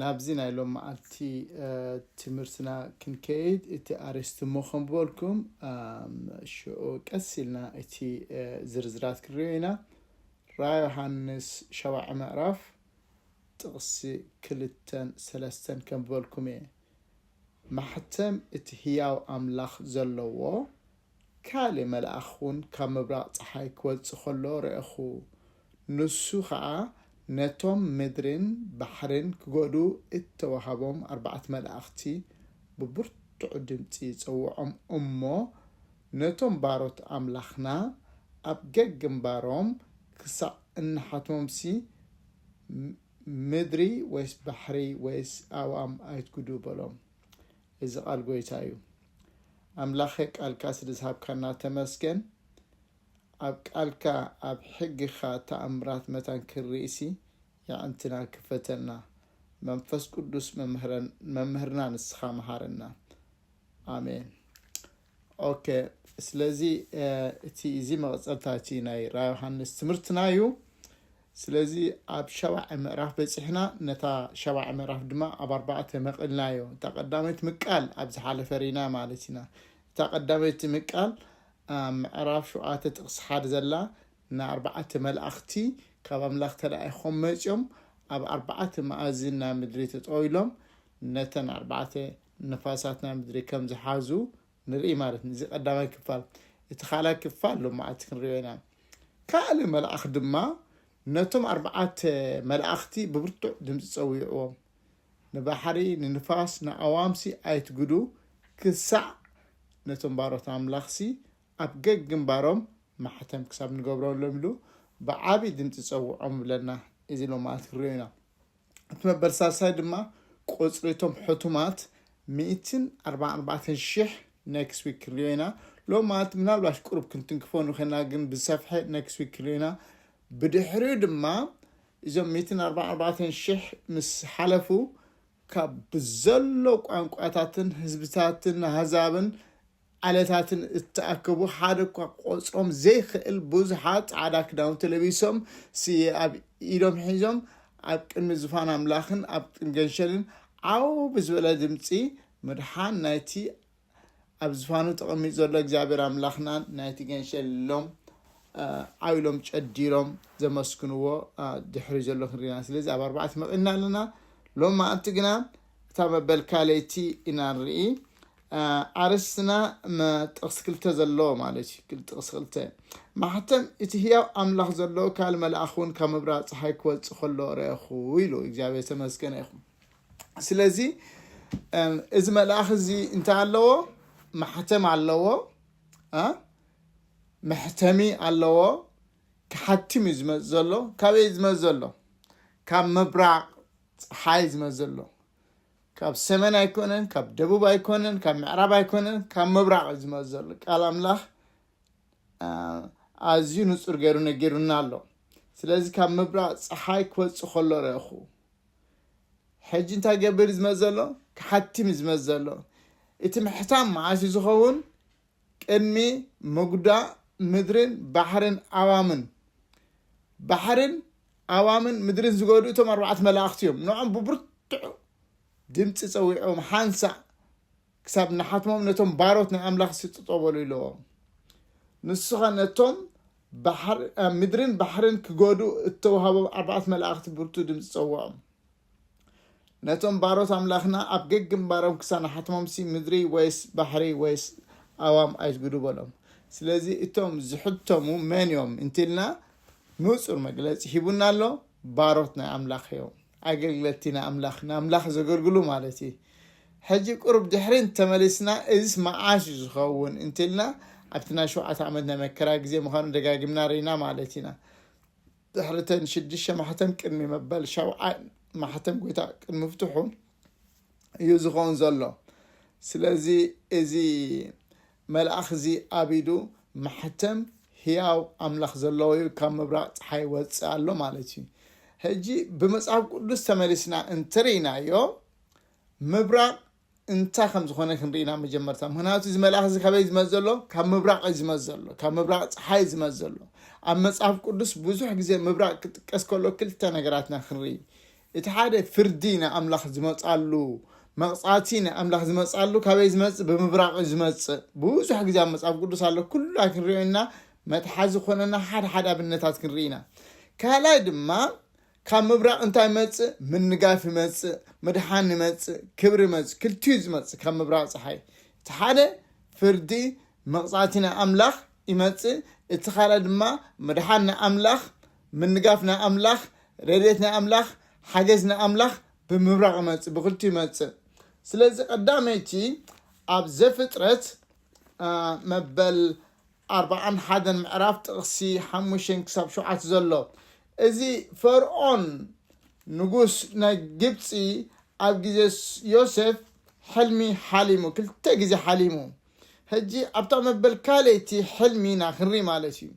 ናብዚ ናይ ሎም መዓልቲ ትምህርትና ክንከይድ እቲ ኣርእስቲ እሞ ከም በልኩም ሽዑ ቀስ ኢልና እቲ ዝርዝራት ክንሪኦ ኢና ራ ዮሃንስ ሸባዒ ምዕራፍ ጥቕሲ ክልተን ሰለስተን ከም በልኩም እየ ማሕተም እቲ ህያው ኣምላኽ ዘለዎ ካልእ መልኣኽ እውን ካብ ምብራቕ ጸሓይ ኪወጽእ ከሎ ርኣኹ፣ ንሱ ኸኣ ነቶም ምድርን ባሕርን ኪጐድኡ እተዋህቦም ኣርባዕተ መላእኽቲ ብብርቱዕ ድምጺ ይጸውዖም እሞ፣ ነቶም ባሮት ኣምላኽና ኣብ ገግምባሮም ክሳዕ እንሓትሞምሲ፣ ምድሪ ወይስ ባሕሪ ወይስ ኣእዋም ኣይትጕድኡ በሎም። እዚ ቃል ጎይታ እዩ ኣምላከ ቃልካ ስለ ዝሃብካና ተመስገን ኣብ ቃልካ ኣብ ሕግካ ታኣምራት መታን ክንሪኢሲ የዕንትና ክፈተልና መንፈስ ቁዱስ መምህርና ንስካ መሃረና ኣሜን ኦኬ ስለዚ እቲ እዚ መቐፀልታ እቲ ናይ ራ ዮሃንስ ትምህርትና እዩ ስለዚ ኣብ ሸባዐ ምዕራፍ በፂሕና ነታ ሸባዐ ምዕራፍ ድማ ኣብ ኣርባዕተ መቕልናዮ እታ ቀዳመይቲ ምቃል ኣብ ዝሓለፈ ሪና ማለት ኢና እታ ቀዳመይቲ ምቃል ምዕራፍ ሸውዓተ ጥቕሲ ሓደ ዘላ ንኣርባዕተ መላእኽቲ ካብ ኣምላኽ ተላኢኾም መፅኦም ኣብ ኣርባዕተ መኣዝን ናይ ምድሪ ተጠው ኢሎም ነተን ኣርባዕተ ንፋሳት ናይ ምድሪ ከም ዝሓዙ ንርኢ ማለት እዩ። እዚ ቀዳማይ ክፋል። እቲ ካልኣይ ክፋል ሎማዓልቲ ክንሪኦ ኢና። ካልእ መልኣኽ ድማ ነቶም ኣርባዓተ መላእኽቲ ብብርቱዕ ድምፂ ፀዊዕዎም ንባሕሪ ንንፋስ ንኣዋምሲ ኣይትግዱ ክሳዕ ነቶም ባሮት ኣምላኽሲ ኣብ ገግንባሮም ማሕተም ክሳብ ንገብረሎም ኢሉ ብዓብዪ ድምፂ ፀውዖም ይብለና እዚ ሎማዓልቲ ክንሪኦ ኢና። እቲ መበል ሳልሳይ ድማ ቁጽሪ እቶም ሕቱማት ሚእትን ኣርባዓን ኣርባዕተን ሽሕ ኔክስት ዊክ ክንሪኦ ኢና ሎም ማለት ምናልባሽ ቁሩብ ክንትንክፎ ንኸና ግን ብዝሰፍሐ ኔክስት ዊክ ክንሪኦ ኢና ብድሕሪኡ ድማ እዞም ሚእትን ኣርባዓን ኣርባዕተን ሽሕ ምስ ሓለፉ ካብ ብዘሎ ቋንቋታትን ህዝብታትን ኣህዛብን ዓለታትን እተኣከቡ ሓደ እኳ ክቆጽሮም ዘይክእል ብዙሓት ጻዕዳ ክዳውንቲ ለቢሶም ስየ ኣብ ኢዶም ሒዞም ኣብ ቅድሚ ዝፋን ኣምላኽን ኣብ ቅድሚ ገንሸልን ዓው ብዝበለ ድምጺ ምድሓን ናይቲ ኣብ ዝፋኑ ተቐሚጡ ዘሎ እግዚኣብሔር ኣምላኽናን ናይቲ ገንሸል ኢሎም ዓው ኢሎም ጨዲሮም ዘመስግንዎ ድሕሪ ዘሎ ክንሪና ስለዚ ኣብ ኣርባዕተ መቒና ኣለና ሎም መዓልቲ ግና እታ መበል ካለይቲ ኢና ንርኢ ኣርእስትና መ ጥቕሲ ክልተ ዘለዎ ማለት እዩ። ክል ጥቕሲ ክልተ ማሕተም እቲ ህያው ኣምላኽ ዘለዎ ካል መልኣኽ እውን ካብ ምብራቕ ፀሓይ ክወፅእ ከሎ ረእኹ ኢሉ እግዚኣብሔር ተመስገነ ይኹን። ስለዚ እም፣ እዚ መልኣኽ እዚ እንታይ ኣለዎ? ማሕተም ኣለዎ እ? መሕተሚ ኣለዎ ክሓትም እዩ ዝመፅ ዘሎ። ካበይ እዩ ዝመፅ ዘሎ? ካብ ምብራቕ ፀሓይ ዝመፅ ዘሎ ካብ ሰሜን ኣይኮነን፣ ካብ ደቡብ ኣይኮነን፣ ካብ ምዕራብ ኣይኮነን፣ ካብ ምብራቕ እዩ ዝመፅ ዘሎ። ቃል ኣምላኽ ኣዝዩ ንፁር ገይሩ ነጊሩና ኣሎ። ስለዚ ካብ ምብራቕ ፀሓይ ክወፅእ ከሎ ረእኹ። ሕጂ እንታይ ገብር ዝመፅ ዘሎ ክሓቲም ዝመፅ ዘሎ እቲ ምሕታም መዓስ እዩ ዝኸውን ቅድሚ ምጉዳእ ምድርን ባሕርን ኣዋምን ባሕርን ኣዋምን ምድርን ዝገዱ እቶም ኣርባዕት መላእኽቲ እዮም ንዖም ብብርትዑ ድምፂ ፀዊዖም ሓንሳእ ክሳብ ንሓትሞም ነቶም ባሮት ናይ ኣምላኽ ስጥጦ በሉ ኢለዎም ንሱኸ ነቶም ምድርን ባሕርን ክገዱ እተዋሃቦም ኣርባዕት መላእኽቲ ብርቱ ድምፂ ፀውዖም ነቶም ባሮት ኣምላኽና ኣብ ገግንባሮም ክሳናሓትሞምሲ ምድሪ ወይስ ባሕሪ ወይስ ኣዋም ኣይትግዱ በሎም ስለዚ እቶም ዝሕተሙ መን እዮም እንትልና ንጹር መግለጺ ሂቡና ኣሎ ባሮት ናይ ኣምላኽ እዮም ኣገልግለቲ ናይ ኣምላኽ ንኣምላኽ ዘገልግሉ ማለት እዩ ሕጂ ቁርብ ድሕሪ ተመሊስና እዚስ መዓስ እዩ ዝኸውን እንትልና ኣብቲ ናይ ሸውዓተ ዓመት ናይ መከራ ግዜ ምዃኑ ደጋጊምና ርኢና ማለት ኢና ድሕሪ እተን ሽዱሽተ ማሕተም ቅድሚ መበል ሻብዓይ ማሕተም ጎይታ ቅድሚ ምፍትሑ እዩ ዝኸውን ዘሎ። ስለዚ እዚ መልኣኽ እዚ ኣብ ኢዱ ማሕተም ህያው ኣምላኽ ዘለዎ እዩ፣ ካብ ምብራቕ ጸሓይ ይወጽእ ኣሎ ማለት እዩ። ሕጂ ብመጽሓፍ ቅዱስ ተመሊስና እንተርኢናዮ ምብራቕ እንታይ ከም ዝኾነ ክንርኢ ኢና መጀመርታ ምክንያቱ እዚ መልኣኽ እዚ ካበይ ዝመፅ ዘሎ ካብ ምብራቕ እዩ ዝመፅ ዘሎ ካብ ምብራቕ ፀሓይ እዩ ዝመፅ ዘሎ ኣብ መፅሓፍ ቅዱስ ብዙሕ ግዜ ምብራቕ ክጥቀስ ከሎ ክልተ ነገራትና ክንርኢ እቲ ሓደ ፍርዲ ንኣምላኽ ዝመፃሉ መቕፃዕቲ ንኣምላኽ ዝመፃሉ ካበይ ዝመፅእ ብምብራቕ እዩ ዝመፅእ ብዙሕ ግዜ ኣብ መፅሓፍ ቅዱስ ኣሎ ኩሉ ኣይክንሪኦ ኢና መትሓዚ ኮነና ሓደ ሓደ ኣብነታት ክንርኢ ኢና ካልኣይ ድማ ካብ ምብራቕ እንታይ ይመጽእ? ምንጋፍ ይመጽእ፣ ምድሓን ይመጽእ፣ ክብሪ ይመጽእ፣ ክልቲኡ ዝመጽእ ካብ ምብራቕ ጸሓይ። እቲ ሓደ ፍርዲ መቕጻዕቲ ናይ ኣምላኽ ይመጽእ፣ እቲ ካልኣይ ድማ ምድሓን ናይ ኣምላኽ፣ ምንጋፍ ናይ ኣምላኽ፣ ረድኤት ናይ ኣምላኽ፣ ሓገዝ ናይ ኣምላኽ ብምብራቕ ይመጽእ፣ ብክልቲኡ ይመጽእ። ስለዚ ቀዳመይቲ ኣብ ዘፍጥረት አ፣ መበል ኣርብዓን ሓደን ምዕራፍ ጥቕሲ ሓሙሽተ ክሳብ ሸውዓተ ዘሎ እዚ ፈርኦን ንጉስ ናይ ግብፂ ኣብ ግዜ ዮሴፍ ሕልሚ ሓሊሙ ክልተ ግዜ ሓሊሙ ሕጂ ኣብታ መበል ካልይቲ ሕልሚ ኢና ክንሪ ማለት እዩ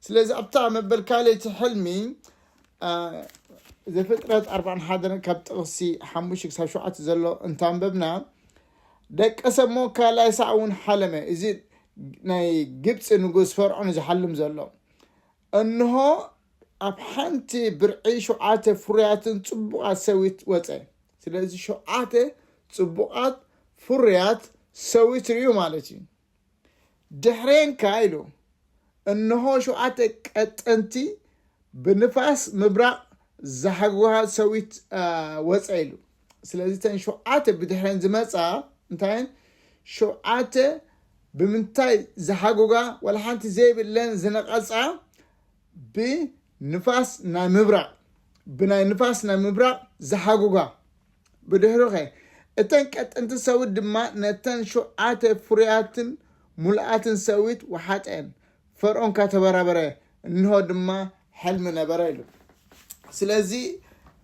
ስለዚ ኣብታ መበል ካልይቲ ሕልሚ ዘፍጥረት ኣርብዓን ሓደን ካብ ጥቕሲ ሓሙሽተ ክሳብ ሸውዓተ ዘሎ እንታንበብና ደቀሰ'ሞ ካልኣይ ሳዕ እውን ሓለመ፣ እዚ ናይ ግብጺ ንጉስ ፈርዖን ዝሓልም ዘሎ። እንሆ፣ ኣብ ሓንቲ ብርዒ ሸውዓተ ፍሩያትን ጽቡቓት ሰዊት ወጸ። ስለዚ ሸውዓተ ጽቡቓት ፍሩያት ሰዊት ርእዩ ማለት እዩ። ድሕሬንካ ኢሉ እንሆ ሸውዓተ ቀጠንቲ ብንፋስ ምብራቕ ዝሓግዋ ሰዊት ወፀ ኢሉ ስለዚ ተን ሸውዓተ ብድሕሬን ዝመፃ እንታይን ሸውዓተ ብምንታይ ዝሓጉጋ ዋላ ሓንቲ ዘይብለን ዝነቐፃ ብንፋስ ናይ ምብራቕ ብናይ ንፋስ ናይ ምብራቕ ዝሓጉጋ ብድሕሩኸ? እተን ቀጠንቲ ሰዊት ድማ ነተን ሸውዓተ ፍሩያትን ምሉኣትን ሰዊት ወሓጠኤን። ፈርኦን ከኣ ተበራበረ፣ እንሆ ድማ ሕልሚ ነበረ ኢሉ። ስለዚ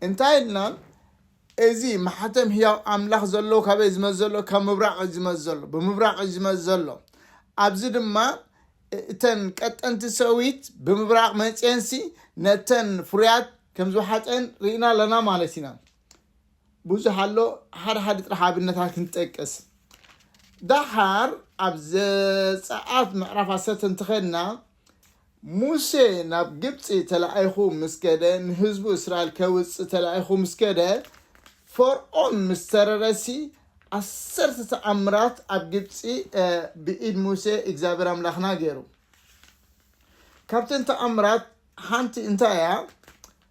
እንታይ ኢልና እዚ ማሕተም ህያው ኣምላኽ ዘሎ ካበይ ዝመጽእ ዘሎ ካብ ምብራቕ እዩ ዝመጽእ ዘሎ ብምብራቕ እዩ ዝመጽእ ዘሎ ኣብዚ ድማ እተን ቀጠንቲ ሰዊት ብምብራቕ መጽኤንሲ ነተን ፍሩያት ከም ዝወሓጠን ርኢና ኣለና ማለት ኢና ብዙሕ ኣሎ ሓደ ሓደ ጥራሕ ኣብነታት ክንጠቅስ ዳሓር ኣብ ዘፀኣት ምዕራፍ ዓሰርተ እንትኸድና ሙሴ ናብ ግብፂ ተላኢኹ ምስ ከደ ንህዝቡ እስራኤል ከውፅእ ተላኢኹ ምስ ከደ ፈርዖን ምስ ተረረሲ ዓሰርተ ተኣምራት ኣብ ግብፂ ብኢድ ሙሴ እግዚኣብሔር ኣምላኽና ገይሩ ካብተን ተኣምራት ሓንቲ እንታይ እያ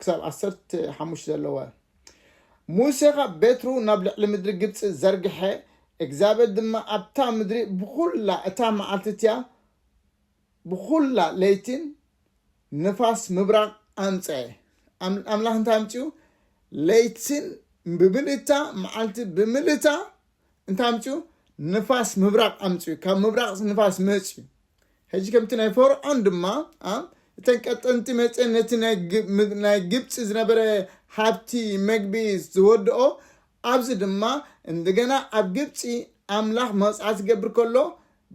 ክሳብ ዓሰርተ ሓሙሽተ ዘለዋ ሙሴ ኻብ ቤትሩ ናብ ልዕሊ ምድሪ ግብፂ ዘርግሐ እግዚኣብሔር ድማ ኣብታ ምድሪ ብዅላ እታ መዓልቲ እቲኣ ብዅላ ለይቲን ንፋስ ምብራቕ ኣምፀአ ኣም- ኣምላኽ እንታይ ኣምፅኡ ለይቲን ብምልእታ መዓልቲ ብምልእታ እንታይ ኣምፅኡ ንፋስ ምብራቕ ኣምፅኡ ካብ ምብራቕ ንፋስ መፅኡ ሕጂ ከምቲ ናይ ፈርዖን ድማ እተን ቀጠንቲ መፅን ነቲ ናይ ግብፂ ዝነበረ ሃብቲ መግቢ ዝወድኦ ኣብዚ ድማ እንደገና ኣብ ግብፂ ኣምላኽ መቕፃዕቲ ዝገብር ከሎ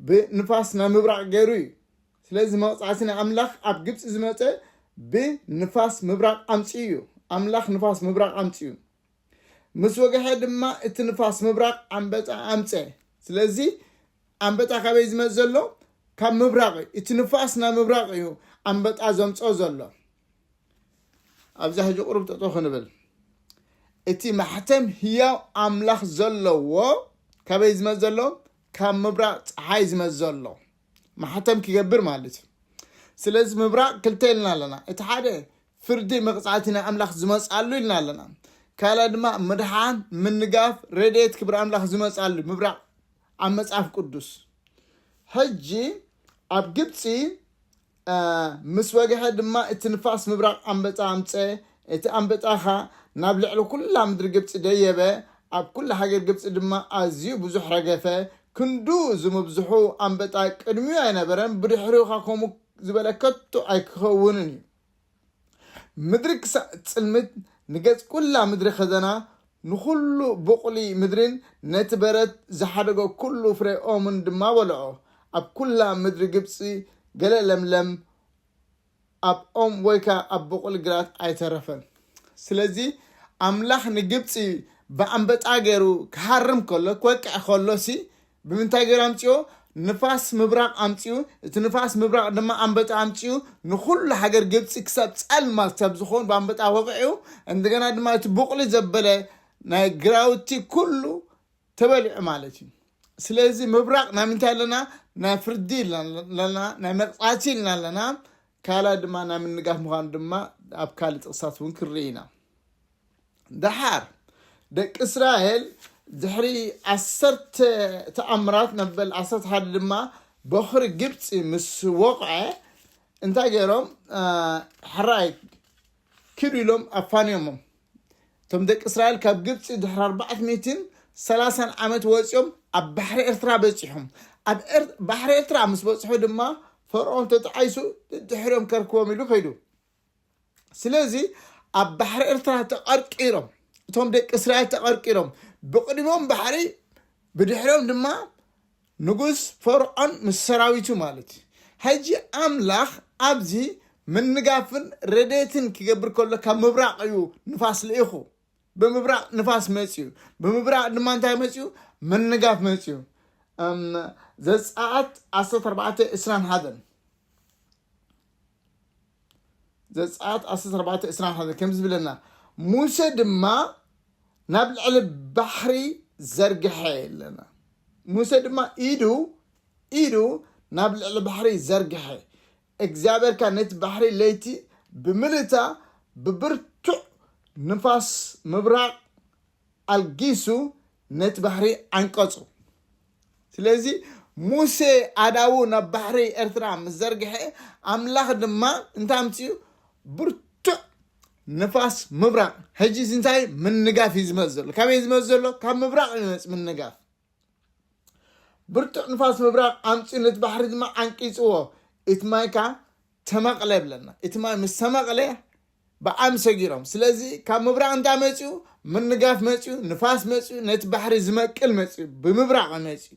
ብንፋስ ናብ ምብራቕ ገይሩ እዩ ስለዚ መቕፃዕቲ ናይ ኣምላኽ ኣብ ግብፂ ዝመፀ ብንፋስ ምብራቕ ኣምፅኡ እዩ ኣምላኽ ንፋስ ምብራቕ ኣምፅኡ ምስ ወግሐ ድማ እቲ ንፋስ ምብራቕ ኣንበጣ ኣምፀ ስለዚ ኣንበጣ ካበይ ዝመፅ ዘሎ ካብ ምብራቅ እዩ እቲ ንፋስ ናብ ምብራቅ እዩ ኣንበጣ ዘምፆ ዘሎ ኣብዛ ሕጂ ቁሩብ ጠጦ ክንብል እቲ ማሕተም ህያው ኣምላኽ ዘለዎ ካበይ ዝመፅ ዘሎ ካብ ምብራቅ ፀሓይ ዝመፅ ዘሎ ማሕተም ክገብር ማለት እዩ ስለዚ ምብራቅ ክልተ ኢልና ኣለና እቲ ሓደ ፍርዲ መቅጻዕቲ ናይ ኣምላኽ ዝመጻሉ ኢልና ኣለና ካልኣይ ድማ ምድሓን ምንጋፍ ረድኤት ክብሪ ኣምላኽ ዝመጻሉ ምብራቅ ኣብ መጽሓፍ ቅዱስ ሕጂ ኣብ ግብጺ ምስ ወግሐ ድማ እቲ ንፋስ ምብራቅ ኣንበጣ ኣምፀ እቲ ኣንበጣ ኸ ናብ ልዕሊ ኩላ ምድሪ ግብፂ ደየበ ኣብ ኩላ ሃገር ግብፂ ድማ ኣዝዩ ብዙሕ ረገፈ ክንዱ ዝምብዝሑ ኣንበጣ ቅድሚኡ ኣይነበረን ብድሕሪኡ ኸ ከምኡ ዝበለ ከቶ ኣይክኸውንን እዩ ምድሪ ክሳዕ እትጽልምት፣ ንገጽ ኵላ ምድሪ ኸዘና፣ ንዅሉ ብቝሊ ምድርን ነቲ በረድ ዝሓደጎ ኵሉ ፍረ ኦምን ድማ በልዖ። ኣብ ኵላ ምድሪ ግብጺ ገለ ለምለም ኣብ ኦም ወይ ከኣ ኣብ ብቝል ግራት ኣይተረፈን። ስለዚ፣ ኣምላኽ ንግብጺ ብኣንበጣ ገይሩ ክሃርም ከሎ፣ ክወቅዕ ከሎሲ፣ ብምንታይ ገይሩ ኣምፂኦ? ንፋስ ምብራቕ ኣምፂኡ፣ እቲ ንፋስ ምብራቕ ድማ ኣንበጣ ኣምፂኡ ንኹሉ ሃገር ግብፂ ክሳብ ፀልማት ክሳብ ዝኾን ብኣንበጣ ወቂዑ፣ እንደገና ድማ እቲ ቡቕሊ ዘበለ ናይ ግራውቲ ኩሉ ተበሊዑ ማለት እዩ። ስለዚ ምብራቕ ናይ ምንታይ ኣለና? ናይ ፍርዲ ኣለና፣ ናይ መቕፃዕቲ ኢልና ኣለና። ካልኣይ ድማ ናይ ምንጋፍ ምዃኑ ድማ ኣብ ካልእ ጥቕስታት እውን ክንርኢ ኢና። ደሓር ደቂ እስራኤል ድሕሪ ዓሰርተ ተኣምራት ነበል ዓሰርተ ሓደ ድማ በኽሪ ግብፂ ምስ ወቕዐ እንታይ ገይሮም ሕራይ ክዱ ኢሎም ኣፋንዮሞም እቶም ደቂ እስራኤል ካብ ግብፂ ድሕሪ ኣርባዕት ሚትን ሰላሳን ዓመት ወፂኦም ኣብ ባሕሪ ኤርትራ በፂሖም ኣብ ባሕሪ ኤርትራ ምስ በፅሑ ድማ ፈርዖን ተጣዒሱ ድሕሪኦም ከርክቦም ኢሉ ከይዱ ስለዚ ኣብ ባሕሪ ኤርትራ ተቐርቂሮም እቶም ደቂ እስራኤል ተቐርቂሮም ብቕድሞም ባሕሪ ብድሕሮም ድማ ንጉስ ፈርዖን ምስ ሰራዊቱ ማለት እዩ ሕጂ ኣምላኽ ኣብዚ ምንጋፍን ረዴትን ክገብር ከሎ ካብ ምብራቕ እዩ ንፋስ ልኢኹ ብምብራቕ ንፋስ መፅዩ ብምብራቕ ድማ እንታይ መፅዩ ምንጋፍ መፅዩ ዘፀኣት 14 21 ዘጸኣት 14:21 ከም ዝብለና ሙሴ ድማ ናብ ልዕሊ ባሕሪ ዘርግሐ ኣለና ሙሴ ድማ ኢዱ ኢዱ ናብ ልዕሊ ባሕሪ ዘርግሐ እግዚኣብሔር ካ ነቲ ባሕሪ ለይቲ ብምልእታ ብብርቱዕ ንፋስ ምብራቕ ኣልጊሱ ነቲ ባሕሪ ዓንቀጹ። ስለዚ ሙሴ ኣእዳዉ ናብ ባሕሪ ኤርትራ ምስ ዘርግሐ፣ ኣምላኽ ድማ እንታይ ኣምጺኡ? ብርቱዕ ንፋስ ምብራቕ። ሕጂ እዚ እንታይ እዩ? ምንጋፍ እዩ ዝመጽእ ዘሎ። ካበይ እዩ ዝመጽእ ዘሎ? ካብ ምብራቕ እዩ ዝመጽእ ምንጋፍ። ብርቱዕ ንፋስ ምብራቕ ኣምጺኡ ነቲ ባሕሪ ድማ ዓንቂጽዎ፣ እቲ ማይ ከኣ ተመቕለ ብለና። እቲ ማይ ምስ ተመቕለ ብዓም ሰጊሮም ስለዚ ካብ ምብራቅ እንታይ መጺኡ ምርንጋፍ መጺኡ ንፋስ መጺኡ ነቲ ባሕሪ ዝመቅል መጺኡ ብምብራቅ መጺኡ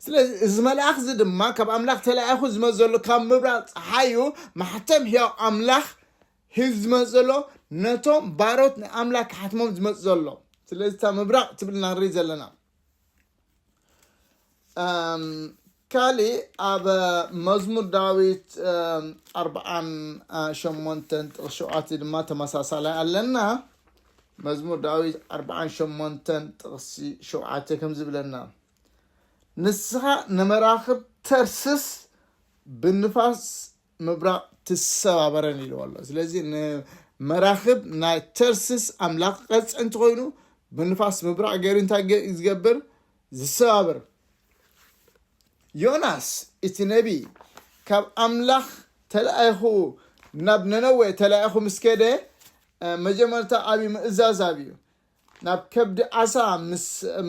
ስለዚ እዚ መልኣኽ እዚ ድማ ካብ ኣምላኽ ተላኢኹ ዝመጽእ ዘሎ ካብ ምብራቅ ፀሓዩ ማሕተም ሕያው ኣምላኽ ሂዝ ዝመጽእ ዘሎ ነቶም ባሮት ንኣምላክ ክሓትሞም ዝመጽእ ዘሎ ስለዚ እታ ምብራቅ ትብል ኢና ንርኢ ዘለና ካሊእ ኣብ መዝሙር ዳዊት ኣርብዓን ሸሞንተን ጥቕስ ሸውዓተ ድማ ተመሳሳላይ ኣለና መዝሙር ዳዊት ኣርብዓን ሸሞንተን ጥቕሲ ሸውዓተ ከም ዝብለና ንስኻ ንመራኽብ ተርስስ ብንፋስ ምብራቕ ትሰባበረን ኢልዎ ኣሎ ስለዚ ንመራኽብ ናይ ተርስስ ኣምላኽ ቐፅዕ እንትኮይኑ ብንፋስ ምብራቕ ገይሩ እንታይ ዝገብር ዝሰባብር ዮናስ እቲ ነቢ ካብ ኣምላኽ ተላኢኹ ናብ ነነዌ ተላኢኹ ምስ ከደ መጀመርታ ኣብዩ ምእዛዝ ኣብዩ ናብ ከብዲ ዓሳ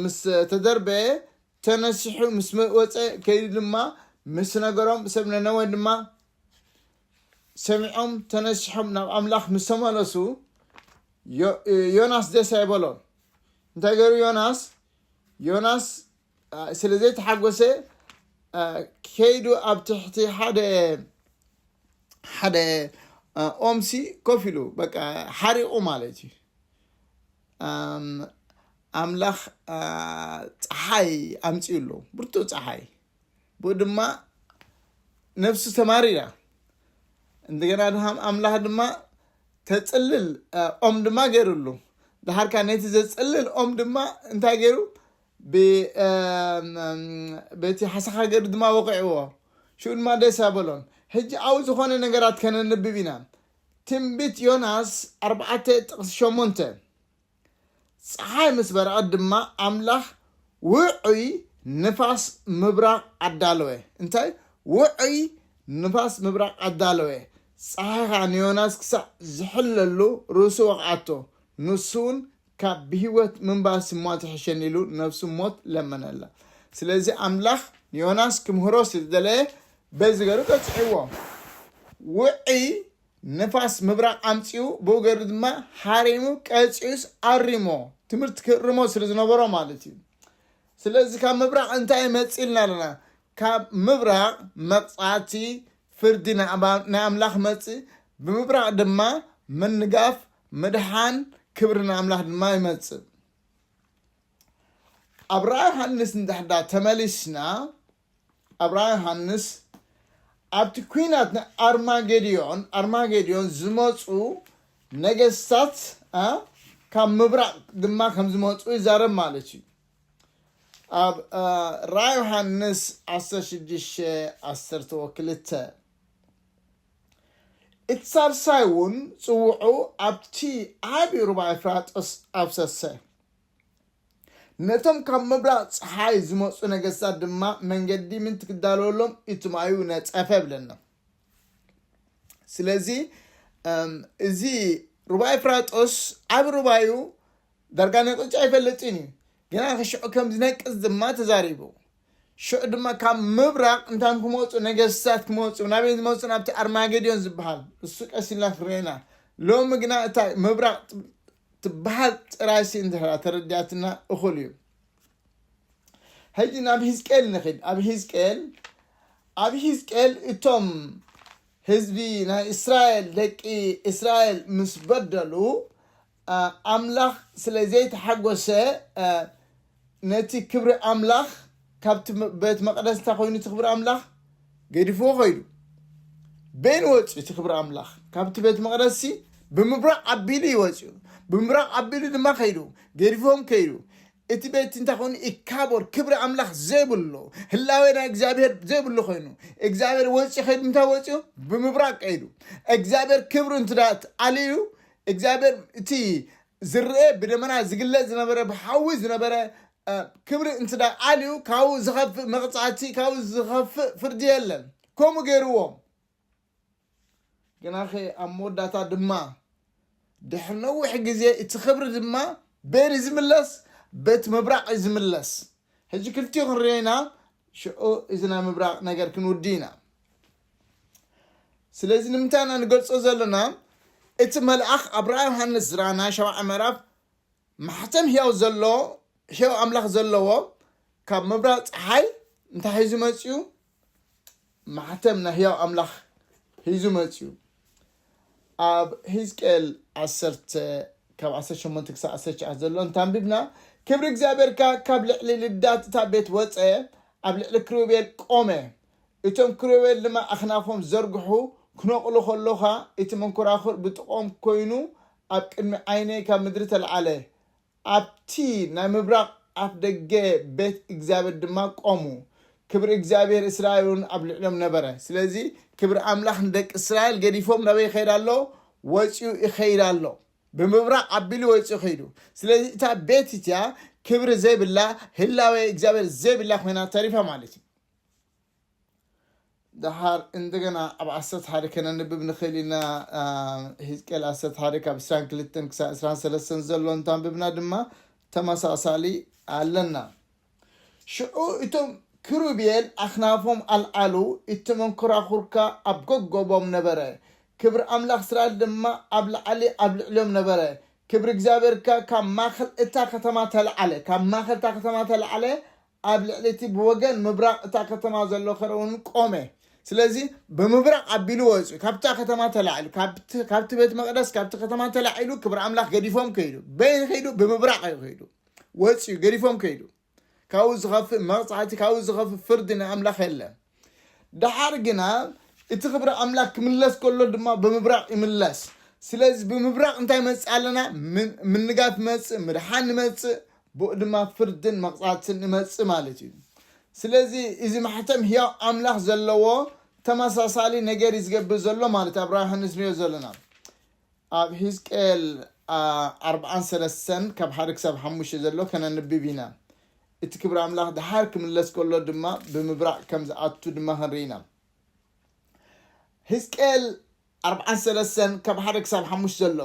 ምስ ተደርበየ ተነሲሑ ምስ ወጸ ከይዱ ድማ ምስ ነገሮም ሰብ ነነወ ድማ ሰሚዖም ተነሲሖም ናብ ኣምላኽ ምስ ተመለሱ ዮናስ ደስ ኣይበሎን እንታይ ገይሩ ዮናስ ዮናስ ስለ ዘይተሓጎሰ ከይዱ ኣብ ትሕቲ ሓደ ሓደ ኦምሲ ኮፍ ኢሉ በቃ ሓሪቑ ማለት እዩ ኣምላኽ ፀሓይ ኣምፅኡ ኣሎ ብርቱዕ ፀሓይ ብኡ ድማ ነፍሱ ተማሪራ እንደገና ድማ ኣምላኽ ድማ ተፅልል ኦም ድማ ገይሩሉ ድሓርካ ነቲ ዘፅልል ኦም ድማ እንታይ ገይሩ በቲ ሓሳኻ ገይሩ ድማ ወቂዕዎ ሽኡ ድማ ደስ ኣበሎን ሕጂ ኣብ ዝኾነ ነገራት ከነንብብ ኢና ትንቢት ዮናስ ኣርባዕተ ጥቕሲ ሸሞንተ፣ ጸሓይ ምስ በረቐት ድማ ኣምላኽ ውዑይ ንፋስ ምብራቕ ኣዳለወ። እንታይ? ውዑይ ንፋስ ምብራቕ ኣዳለወ። ጸሓይ ኸኣ ንዮናስ ክሳዕ ዚሕለሉ ርእሱ ወቕዓቶ፣ ንሱውን ካብ ብህይወት ምንባርሲ እሞ ትሕሸኒ ኢሉ ነብሱ ሞት ለመነላ ስለዚ ኣምላኽ ንዮናስ ክምህሮ ስለ ዝደለየ በዚ ገሩ ቀጽዕዎ ውዒ ንፋስ ምብራቕ ኣምጺኡ ብኡ ገሩ ድማ ሓሪሙ ቀጺኡስ ኣሪሞ ትምህርቲ ክእርሞ ስለ ዝነበሮ ማለት እዩ ስለዚ ካብ ምብራቕ እንታይ መፂልና ኣለና ካብ ምብራቕ መቕፃዕቲ ፍርዲ ንኣምላኽ መፅእ ብምብራቕ ድማ ምንጋፍ ምድሓን ክብሪ ንኣምላኽ ድማ ይመጽእ። ኣብ ራእይ ዮሃንስ እንድሕዳ ተመሊስና ኣብ ራእይ ዮሃንስ ኣብቲ ኩናት ንኣርማጌድዮን ኣርማጌድዮን ዝመፁ ነገስታት ካብ ምብራቅ ድማ ከም ዝመፁ ይዛረብ ማለት እዩ ኣብ ራእይ ዮሃንስ 16 12 እቲ ሳልሳይ እውን ጽውዑ ኣብቲ ዓቢ ሩባ ኤፍራጥስ ኣፍሰሰ፣ ነቶም ካብ ምብራቕ ጸሓይ ዝመጹ ነገስታት ድማ መንገዲ ምእንቲ ክዳለወሎም እቲ ማዩ ነጸፈ እብለና። ስለዚ እዚ ሩባ ኤፍራጥስ ዓቢ ሩባ እዩ፣ ዳርጋ ነቒጹ ኣይፈልጥን እዩ፣ ግና ሽዑ ከም ዝነቅጽ ድማ ተዛሪቡ። ሽዑ ድማ ካብ ምብራቕ እንታይም ክመጹ ነገስታት ክመጹ፣ ናበይ ዝመጹ ናብቲ ኣርማጌዶን ዝበሃል እሱ ቀስ ኢልና ክንሪኦ ኢና፣ ሎሚ ግና እታ ምብራቕ ትበሃል ጥራይሲ እንተድሕራ ተረዲኣትና እኹል እዩ። ሕጂ ናብ ህዝቅኤል ንኺድ ኣብ ህዝቅኤል ኣብ ህዝቅኤል እቶም ህዝቢ ናይ እስራኤል ደቂ እስራኤል ምስ በደሉ ኣምላኽ ስለ ዘይተሓጐሰ፣ ነቲ ክብሪ ኣምላኽ ካብቲ ቤት መቕደስ እንታይ ኮይኑ እቲ ክብሪ ኣምላኽ ገዲፍዎ ከይዱ። በይኑ ወፅዩ እቲ ክብሪ ኣምላኽ ካብቲ ቤት መቕደስሲ ብምብራቕ ኣቢሉ እዩ ወፅዩ። ብምብራቕ ኣቢሉ ድማ ከይዱ ገዲፎም ከይዱ። እቲ ቤት እንታይ ኮይኑ ኢካቦር ክብሪ ኣምላኽ ዘይብሉ ህላዌ ናይ እግዚኣብሔር ዘይብሉ ኮይኑ እግዚኣብሔር ወፅዩ ከይዱ እንታይ ወፅዩ ብምብራቕ ከይዱ። እግዚኣብሔር ክብሩ እንትዳ ኣልዩ እግዚኣብሔር እቲ ዝርኤ ብደመና ዝግለጽ ዝነበረ ብሓዊ ዝነበረ ክብሪ እንትዳ ኣልዩ ካብኡ ዝኸፍእ መቕጻዕቲ ካብኡ ዝኸፍእ ፍርዲ የለን ከምኡ ገይርዎ ግናኸ ኣብ መወዳእታ ድማ ድሕሪ ነዊሕ ግዜ እቲ ክብሪ ድማ በየን እዩ ዝምለስ በት ምብራቕ እዩ ዝምለስ ሕጂ ክልቲኡ ክንሪኦ ኢና ሽዑ እዚ ናይ ምብራቕ ነገር ክንውዲ ኢና ስለዚ ንምንታይ ኢና ንገልጾ ዘለና እቲ መልኣኽ ኣብ ራእይ ዮሃንስ ዝራ ናይ ሸውዓይ ምዕራፍ ማሕተም ህያው ዘሎ ህያው ኣምላኽ ዘለዎ ካብ ምብራቕ ፀሓይ እንታይ ሒዙ መፅኡ ማሕተም ናይ ህያው ኣምላኽ ሒዙ መፅኡ ኣብ ህዝቅኤል ዓሰርተ ካብ 18 ክሳብ 19 ዘሎ እንታንቢብና ክብሪ እግዚኣብሔርካ ካብ ልዕሊ ልዳት እታ ቤት ወፀ ኣብ ልዕሊ ክሩቤል ቆመ እቶም ክሮዌል ድማ ኣኽናፎም ዝዘርግሑ ክነቕሉ ከሎኻ እቲ መንኮራኹር ብጥቕኦም ኮይኑ ኣብ ቅድሚ ዓይነይ ካብ ምድሪ ተልዓለ፣ ኣብቲ ናይ ምብራቕ ኣፍ ደገ ቤት እግዚኣብሔር ድማ ቆሙ፣ ክብሪ እግዚኣብሔር እስራኤልውን ኣብ ልዕሊኦም ነበረ። ስለዚ ክብሪ ኣምላኽ ንደቂ እስራኤል ገዲፎም ናበይ ይኸይድ ኣሎ? ወጺኡ ይኸይድ ኣሎ። ብምብራቕ ኣቢሉ ወጺኡ ከይዱ። ስለዚ እታ ቤት እቲኣ ክብሪ ዘይብላ፣ ህላዌ እግዚኣብሔር ዘይብላ ኮይና ተሪፋ ማለት እዩ። ደሓር እንደገና ኣብ ዓሰርተ ሓደ ከነንብብ ንኽእል ኢና ህዝቅኤል ዓሰርተ ሓደ ካብ ዕስራን ክልተን ክሳብ ዕስራን ሰለስተን ዘሎ እንታንብብና ድማ ተመሳሳሊ ኣለና ሽዑ እቶም ክሩቤል ኣኽናፎም ኣልዓሉ እቲ መንኮራኹርካ ኣብ ጎጎቦም ነበረ ክብሪ ኣምላኽ እስራኤል ድማ ኣብ ላዕሊ ኣብ ልዕሊኦም ነበረ ክብሪ እግዚኣብሔር ከ ካብ ማእኸል እታ ከተማ ተለዓለ ካብ ማእኸል እታ ከተማ ተለዓለ ኣብ ልዕሊ እቲ ብወገን ምብራቕ እታ ከተማ ዘሎ ኸረ እውን ቆመ። ስለዚ ብምብራቕ ኣቢሉ ወጹ፣ ካብታ ከተማ ተላዒሉ፣ ካብቲ ካብቲ ቤት መቕደስ ካብቲ ከተማ ተላዒሉ ክብሪ ኣምላኽ ገዲፎም ከይዱ። በይን ከይዱ ብምብራቕ እዩ ከይዱ። ወጽዩ ገዲፎም ከይዱ። ካብኡ ዝኸፍእ መቕጻዕቲ ካብኡ ዝኸፍእ ፍርዲ ናይ ኣምላኽ የለን። ደሓር ግና እቲ ክብሪ ኣምላኽ ክምለስ ከሎ ድማ ብምብራቕ ይምለስ። ስለዚ ብምብራቕ እንታይ ይመጽእ ኣለና? ምንጋፍ ይመጽእ፣ ምድሓን ይመጽእ፣ ብኡ ድማ ፍርድን መቕጻዕትን ይመጽእ ማለት እዩ። ስለዚ እዚ ማሕተም ህያው ኣምላኽ ዘለዎ ተመሳሳሊ ነገር እዩ ዝገብር ዘሎ ማለት ኣብ ራእይ ዮሃንስ ንሪኦ ዘለና ኣብ ሂዝቅኤል ኣርብዓን ሰለስተን ካብ ሓደ ክሳብ ሓሙሽተ ዘሎ ከነንብብ ኢና። እቲ ክብሪ ኣምላኽ ደሓር ክምለስ ከሎ ድማ ብምብራቕ ከም ዝኣቱ ድማ ክንርኢ ኢና። ህዝቅኤል ኣርብዓን ሰለስተን ካብ ሓደ ክሳብ ሓሙሽተ ዘሎ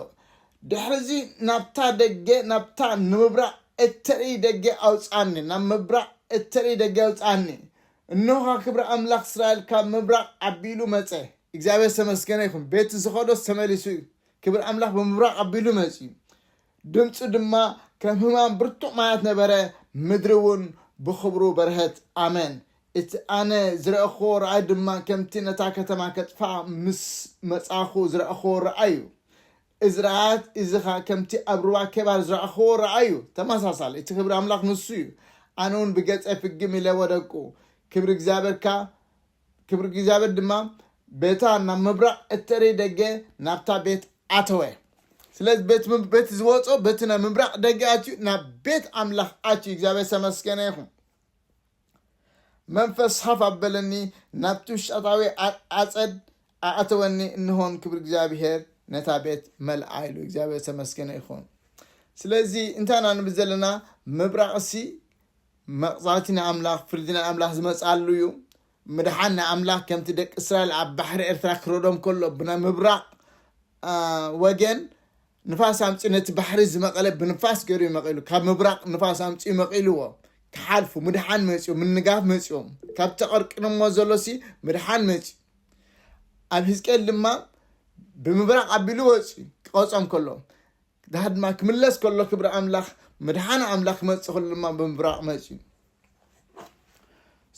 ድሕሪ እዚ ናብታ ደገ ናብታ ንምብራቕ እተርኢ ደገ ኣውፅኣኒ ናብ ምብራቕ እተርኢ ደገ ኣውፅኣኒ እንሆኻ ክብሪ ኣምላኽ እስራኤል ካብ ምብራቕ ኣቢሉ መፀ እግዚኣብሔር ዝተመስገነ ይኹን ቤቱ ዝኸዶ ተመሊሱ እዩ ክብሪ ኣምላኽ ብምብራቕ ኣቢሉ መፅዩ ድምጹ ድማ ከም ህማም ብርቱዕ ማያት ነበረ፣ ምድሪ እውን ብኽብሩ በርሀት። ኣሜን። እቲ ኣነ ዝረእክዎ ራእይ ድማ ከምቲ ነታ ከተማ ከጥፍኣ ምስ መጻእኩ ዝረእክዎ ራእይ እዩ። እዚ ራእያት እዚ ኸኣ ከምቲ ኣብ ሩባ ኬባር ዝረእክዎ ራእይ እዩ፣ ተመሳሳሊ። እቲ ክብሪ ኣምላኽ ንሱ እዩ። ኣነ እውን ብገጸይ ፍግም ኢለ ወደቅኩ። ክብሪ እግዚኣብሔር ከኣ ክብሪ እግዚኣብሔር ድማ በታ ናብ ምብራቕ እተርኢ ደገ ናብታ ቤት ኣተወ። ስለዚ በቲ ዝወፆ በቲ ናይ ምብራቕ ደገ ኣትዩ ናብ ቤት ኣምላኽ ኣትዩ እግዚኣብሔር ዝተመስገነ ይኹን። መንፈስ ሃፍ ኣበለኒ ናብቲ ውሽጣታዊ ኣፀድ ኣእተወኒ እንሆን ክብሪ እግዚኣብሔር ነታ ቤት መልኣ ኢሉ እግዚኣብሔር ተመስገነ ይኹን ስለዚ እንታይ ኢና ንብል ዘለና ምብራቕሲ መቕጻዕቲ ናይ ኣምላኽ፣ ፍርዲ ናይ ኣምላኽ ዝመጽኣሉ እዩ። ምድሓን ናይ ኣምላኽ ከምቲ ደቂ እስራኤል ኣብ ባሕሪ ኤርትራ ክረዶም ከሎ ብናይ ምብራቕ ወገን ንፋስ ኣምፅኡ ነቲ ባሕሪ ዝመቐለ ብንፋስ ገይሩ እዩ መቒሉ ካብ ምብራቕ ንፋስ ኣምፅኡ መቒልዎ ክሓልፉ ምድሓን መፅኡ ምንጋፍ መፅኡ ካብ ተቐርቅንሞ ዘሎሲ ምድሓን መፅኡ ኣብ ህዝቅኤል ድማ ብምብራቕ ኣቢሉ ወፅኡ ክቐፆም ከሎ ድሓር ድማ ክምለስ ከሎ ክብሪ ኣምላኽ ምድሓን ኣምላኽ ክመጽእ ከሎ ድማ ብምብራቕ መጽዩ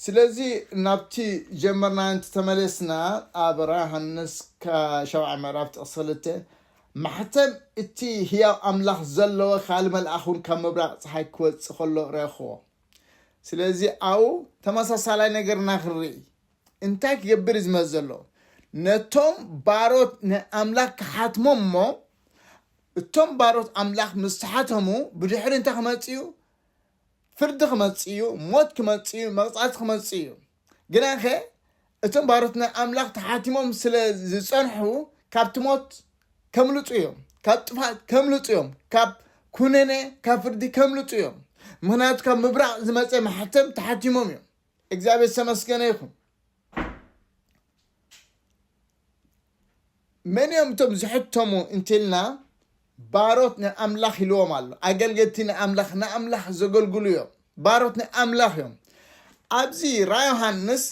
ስለዚ ናብቲ ጀመርና እንቲ ተመለስና ኣብ ራ ሃንስ ሻብዓ ምዕራፍ ጥቕሲ ክልተ ማሕተም እቲ ህያው ኣምላኽ ዘለዎ ካል መልኣኽ እውን ካብ ምብራቕ ፀሓይ ክወፅእ ከሎ ረኽቦ ስለዚ ኣብኡ ተመሳሳላይ ነገርና ክንርኢ እንታይ ክገብር እዩ ዝመጽእ ዘሎ? ነቶም ባሮት ናይ ኣምላኽ ክሓትሞም እሞ፣ እቶም ባሮት ኣምላኽ ምስ ተሓተሙ ብድሕሪ እንታይ ክመጽእ እዩ? ፍርዲ ክመጽእ እዩ፣ ሞት ክመጽእ እዩ፣ መቕጻዕቲ ክመጽእ እዩ። ግናኸ እቶም ባሮት ናይ ኣምላኽ ተሓቲሞም ስለ ዝጸንሑ ካብቲ ሞት ከምልጡ እዮም፣ ካብ ጥፍኣት ከምልጡ እዮም፣ ካብ ኩነኔ ካብ ፍርዲ ከምልጡ እዮም። ምኽንያቱ ካብ ምብራቕ ዝመጸ ማሕተም ተሓቲሞም እዮም። እግዚኣብሔር ዝተመስገነ ይኹን መን እዮም እቶም ዝሕተሙ እንትልና ባሮት ናይ ኣምላኽ ኢልዎም ኣሎ ኣገልገልቲ ናይ ኣምላኽ ንኣምላኽ ዘገልግሉ እዮም ባሮት ናይ ኣምላኽ እዮም ኣብዚ ራ ዮሃንስ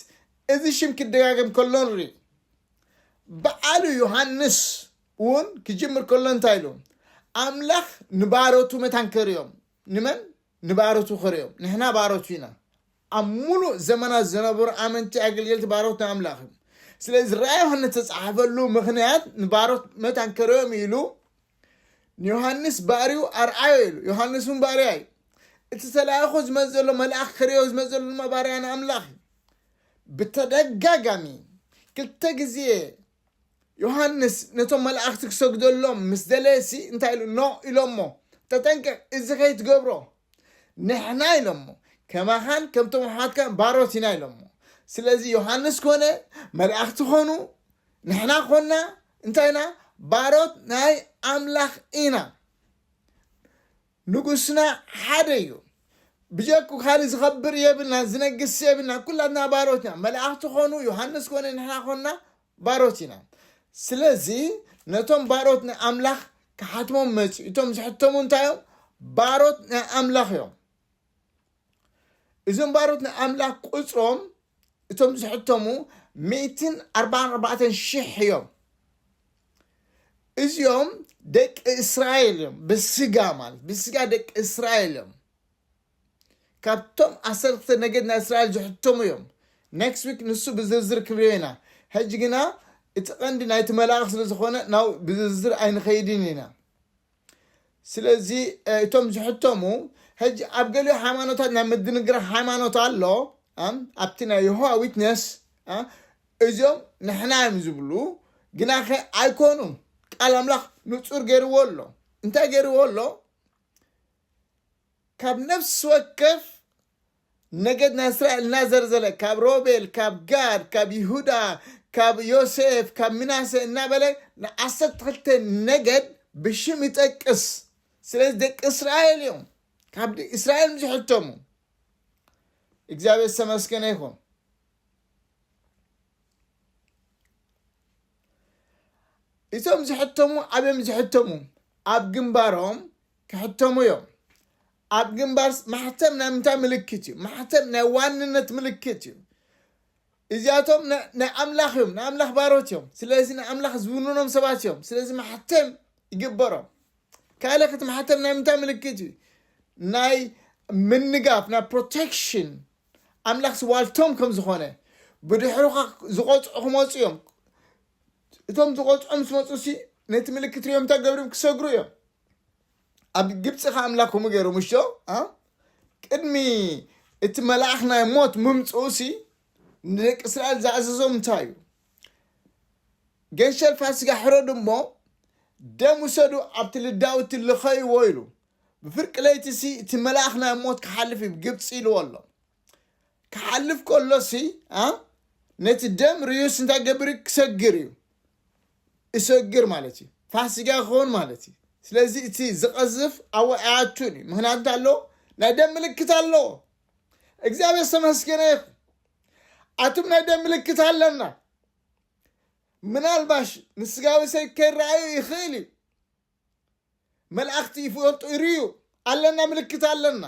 እዚ ሽም ክደጋገም ከሎ ንርኢ በዓሉ ዮሃንስ እውን ክጅምር ከሎ እንታይ ኢሉ ኣምላኽ ንባሮቱ መታን ከርዮም ንመን? ንባሮቱ ኽርእዮም። ንሕና ባሮቱ ኢና። ኣብ ምሉእ ዘመናት ዝነበሩ ኣመንቲ ኣገልገልቲ ባሮት ናይ ኣምላኽ እዮም። ስለዚ ራእይ ዮሃንስ ዝተጻሕፈሉ ምኽንያት ንባሮት መታን ከርእዮም ኢሉ ንዮሃንስ ባርዩ ኣርኣዮ ኢሉ ዮሃንስ እውን ባርያ እዩ እቲ ተላእኮ ዝመፅ ዘሎ መልኣኽ ክርእዮ ዝመፅ ዘሎ ድማ ባርያ ንኣምላኽ እዩ ብተደጋጋሚ ክልተ ግዜ ዮሃንስ ነቶም መላእኽቲ ክሰግደሎም ምስ ደለየሲ እንታይ ኢሉ ኖ ኢሎሞ ተጠንቀቅ እዚ ከይትገብሮ ንሕና ኢሎሞ ከማኻን ከምቶም ኣሕዋትካን ባሮት ኢና ኢሎሞ ስለዚ ዮሃንስ ኮነ መላእኽቲ ኮኑ ንሕና ኮና እንታይ ኢና ባሮት ናይ ኣምላኽ ኢና ንጉስና ሓደ እዩ ብጀኩ ካልእ ዝከብር የብልናን ዝነግስ የብልናን ኩላትና ባሮት ኢና መላእክቲ ኮኑ ዮሃንስ ኮነ ንሕና ኮና ባሮት ኢና ስለዚ ነቶም ባሮት ናይ ኣምላኽ ክሓትሞም መጺኡ እቶም ዝሕተሙ እንታይ እዮም ባሮት ናይ ኣምላኽ እዮም እዞም ባሮት ናይ ኣምላኽ ቁጽሮም እቶም ዝሕተሙ ሚእትን ኣርባዓን ኣርባዕተን ሽሕ እዮም እዚኦም ደቂ እስራኤል እዮም ብስጋ ማለት ብስጋ ደቂ እስራኤል እዮም ካብቶም ዓሰርተ ነገድ ናይ እስራኤል ዝሕተሙ እዮም ኔክስት ዊክ ንሱ ብዝርዝር ክንሪኦ ኢና ሕጂ ግና እቲ ቀንዲ ናይቲ መላእኽ ስለ ዝኾነ ናብ ብዝርዝር ኣይንኸይድን ኢና ስለዚ እቶም ዝሕተሙ ሕጂ ኣብ ገሊኡ ሃይማኖታት ናይ ምድንግራ ሃይማኖት ኣሎ ኣብቲ ናይ የሆዋ ዊትነስ እዚኦም ንሕና እዮም ዝብሉ ግናኸ ኣይኮኑን ቃል ኣምላኽ ንጹር ገይርዎ ኣሎ እንታይ ገይርዎ ኣሎ ካብ ነፍሲ ወከፍ ነገድ ናይ እስራኤል እናዘርዘለ ካብ ሮቤል፣ ካብ ጋድ፣ ካብ ይሁዳ፣ ካብ ዮሴፍ፣ ካብ ምናሴ እናበለ ንዓሰርተ ክልተ ነገድ ብሽም ይጠቅስ። ስለዚ ደቂ እስራኤል እዮም ካብ እስራኤል ዝሕተሙ። እግዚኣብሔር ዝተመስገነ ይኹን። እቶም ዝሕተሙ ዓብዮም ዝሕተሙ ኣብ ግንባሮም ክሕተሙ እዮም። ኣብ ግንባርስ ማሕተም ናይ ምንታይ ምልክት እዩ? ማሕተም ናይ ዋንነት ምልክት እዩ። እዚኣቶም ናይ ኣምላኽ እዮም፣ ናይ ኣምላኽ ባሮት እዮም። ስለዚ ናይ ኣምላኽ ዝውንኖም ሰባት እዮም። ስለዚ ማሕተም ይግበሮም። ካልእ ክቲ ማሕተም ናይ ምንታይ ምልክት እዩ? ናይ ምንጋፍ ናይ ፕሮቴክሽን ኣምላኽ ስዋልቶም ከም ዝኾነ ብድሕሩኻ ዝቆፅዑ ክመፁ እዮም እቶም ዝቆጽዖም ምስ መጹሲ ነቲ ምልክት ሪኦም እንታይ ገብርም ክሰግሩ እዮም ኣብ ግብጺ ከ ኣምላክ ከምኡ ገይሩ ምሾ ቅድሚ እቲ መልኣኽ ናይ ሞት ምምጽኡሲ ንደቂ እስራኤል ዝኣዘዞም እንታይ እዩ ገንሸል ፋሲጋ ሕረዱ እሞ ደም ውሰዱ ኣብቲ ልዳውቲ ልኸይዎ ኢሉ ብፍርቂ ለይቲ ሲ እቲ መልኣኽ ናይ ሞት ክሓልፍ እዩ ግብፂ ኢልዎ ኣሎ ክሓልፍ ከሎሲ ነቲ ደም ርዩስ እንታይ ገብር ክሰግር እዩ እሰግር ማለት እዩ ፋሲጋ ክኸውን ማለት እዩ ስለዚ እቲ ዝቐዝፍ ኣብ ኣያቱን እዩ ምክንያቱ እንታይ ኣለዎ ናይ ደም ምልክት ኣለዎ እግዚኣብሔር ዝተመስገነ ይኹን ኣቱም ናይ ደም ምልክት ኣለና ምናልባሽ ንስጋዊ ሰብ ከይረኣዩ ይኽእል እዩ መልኣኽቲ ይፈልጡ ይርዩ ኣለና ምልክት ኣለና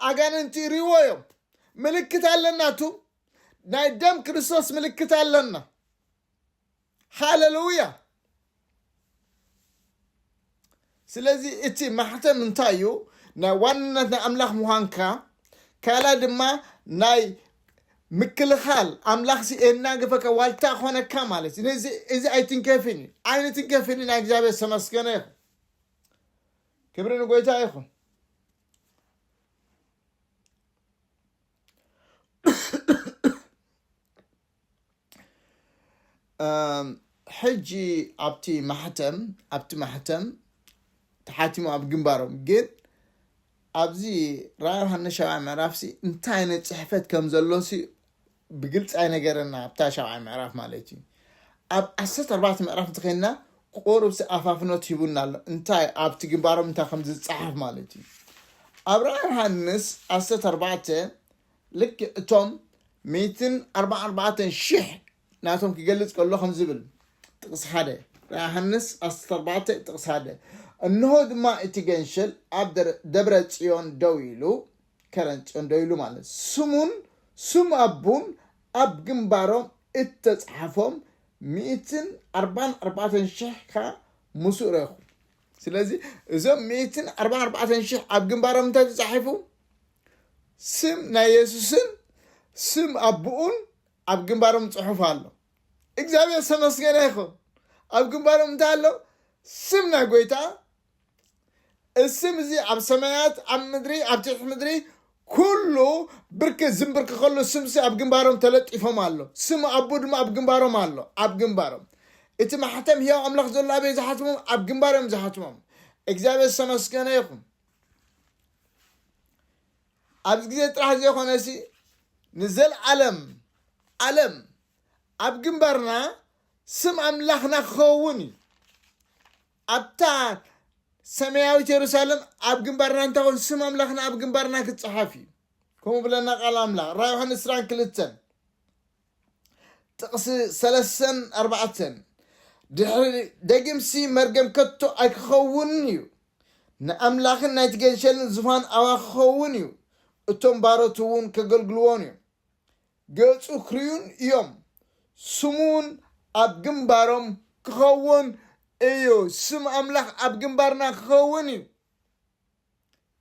ኣጋንንቲ ይርይዎ እዮም ምልክት ኣለና ቱ ናይ ደም ክርስቶስ ምልክት ኣለና ሃለሉያ ስለዚ እቲ ማሕተም እንታይ እዩ ናይ ዋንነት ናይ ኣምላኽ ምዃንካ ካልኣይ ድማ ናይ ምክልኻል ኣምላኽ ሲ ኤናገፈካ ዋልታ ኾነካ ማለት እዩ ነዚ እዚ ኣይትንከፍን እዩ ኣይንትንከፍን ኢና እግዚኣብሔር ዝተመስገነ ይኹን ክብሪ ንጎይታ ይኹን ሕጂ ኣብቲ ማሕተም ኣብቲ ማሕተም ተሓቲሙ ኣብ ግንባሮም ግን ኣብዚ ራዮሃንስ ሻብዓይ ምዕራፍሲ እንታይ ዓይነት ጽሕፈት ከም ዘሎሲ ብግልጺ ኣይነገረና ኣብታ ሻብዓይ ምዕራፍ ማለት እዩ ኣብ ዓሰርተ ኣርባዕተ ምዕራፍ እንተኸይንና ቁሩብሲ ኣፋፍኖት ሂቡና ኣሎ እንታይ ኣብቲ ግንባሮም እንታይ ከም ዝጸሓፍ ማለት እዩ ኣብ ራእይ ዮሃንስ ዓሰርተ ኣርባዕተ ልክ እቶም ሚእትን ኣርባዓ ኣርባዕተን ሽሕ ናቶም ኪገልጽ ከሎ ከምዚ ይብል፣ ጥቕሲ ሓደ፣ ራእይ ዮሃንስ ዓሰርተ ኣርባዕተ ጥቕሲ ሓደ፣ እንሆ ድማ እቲ ገንሸል ኣብ ደረ ደብረ ጽዮን ደው ኢሉ፣ ከረን ጽዮን ደው ኢሉ ማለት፣ ስሙን ስም ኣቡን ኣብ ግምባሮም እተጻሓፎም ሚእትን ኣርባን ኣርባዕተን ሽሕ ከኣ ምስኡ ረእኹ። ስለዚ እዞም ሚእትን ኣርባን ኣርባዕተን ሽሕ ኣብ ግምባሮም እንታይ ተጻሒፉ? ስም ናይ የሱስን ስም ኣቡኡን ኣብ ግንባሮም ጽሑፍ ኣሎ እግዚኣብሔር ዝተመስገነ ይኹን ኣብ ግንባሮም እንታይ ኣሎ ስም ናይ ጎይታ እስም እዚ ኣብ ሰማያት ኣብ ምድሪ ኣብ ትሕቲ ምድሪ ኩሉ ብርክ ዝንብርክኸሉ ስምሲ ኣብ ግንባሮም ተለጢፎም ኣሎ ስም ኣቦ ድማ ኣብ ግንባሮም ኣሎ ኣብ ግንባሮም እቲ ማሕተም ህያው ኣምላኽ ዘሎ ኣበይ ዝሓትሞም ኣብ ግንባሮም ዝሓትሞም እግዚኣብሔር ዝተመስገነ ይኹን ኣብዚ ግዜ ጥራሕ ዘይኮነሲ ንዘልኣለም ኣለም ኣብ ግንባርና ስም ኣምላኽና ክኸውን እዩ ኣብታ ሰማያዊት የሩሳሌም ኣብ ግንባርና እንታኾን ስም ኣምላኽና ኣብ ግንባርና ክፀሓፍ እዩ ከምኡ ብለና ቃል ኣምላኽ ራ ዮሐንስ ስራን ክልተን ጥቕሲ ሰለሰን ኣርባዕተን ድሕሪ ደጊምሲ መርገም ከቶ ኣይክኸውንን እዩ፣ ንኣምላኽን ናይቲ ገንሸልን ዝፋን ኣባ ክኸውን እዩ፣ እቶም ባሮቱ እውን ከገልግልዎን እዮም፣ ገጹ ክርእዩን እዮም፣ ስሙ እውን ኣብ ግንባሮም ክኸውን እዩ። ስም ኣምላኽ ኣብ ግንባርና ክኸውን እዩ።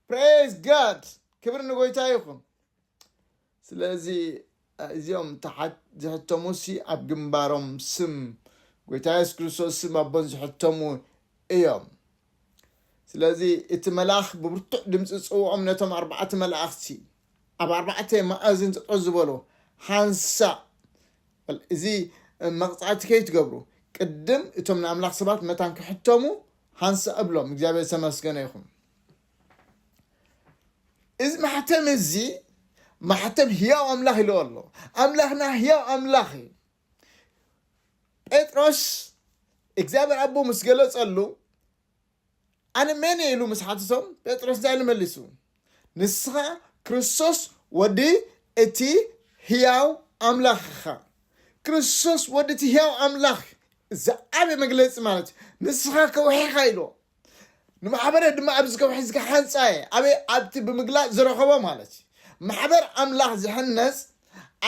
ፕሬዝ ጋድ ክብሪ ንጎይታ ይኹን። ስለዚ እዚኦም ተሓት ዝሕተሙሲ ኣብ ግንባሮም ስም ጎይታ የሱስ ክርስቶስ ስም ኣቦን ዝሕተሙ እዮም። ስለዚ እቲ መልኣኽ ብብርቱዕ ድምፂ ጽውዖም ነቶም ኣርባዕተ መላእኽቲ ኣብ ኣርባዕተ መኣዝን ጠጠው ዝበሉ ሓንሳእ እዚ መቕጻዕቲ ከይትገብሩ ቅድም እቶም ንኣምላኽ ሰባት መታን ክሕተሙ ሓንሳእ እብሎም። እግዚኣብሔር ዝተመስገነ ይኹን። እዚ ማሕተም እዚ ማሕተም ህያው ኣምላኽ ኢልዎ ኣሎ ኣምላኽና ህያው ኣምላኽ እዩ ጴጥሮስ እግዚኣብሔር ኣቦ ምስ ገለጸሉ ኣነ መን ኢሉ ምስ ሓትቶም ጴጥሮስ እንታይ ኢሉ መሊሱ ንስኻ ክርስቶስ ወዲ እቲ ህያው ኣምላኽ ኢኻ ክርስቶስ ወዲ እቲ ህያው ኣምላኽ ዝዓበ መግለፂ ማለት እዩ ንስኻ ከውሒኻ ኢልዎ ንማሕበረ ድማ ኣብዚ ከውሒ እዚ ክሓንጻ እየ ኣበይ ኣብቲ ብምግላጽ ዝረኸቦ ማለት እዩ ማሕበር ኣምላኽ ዝሕነጽ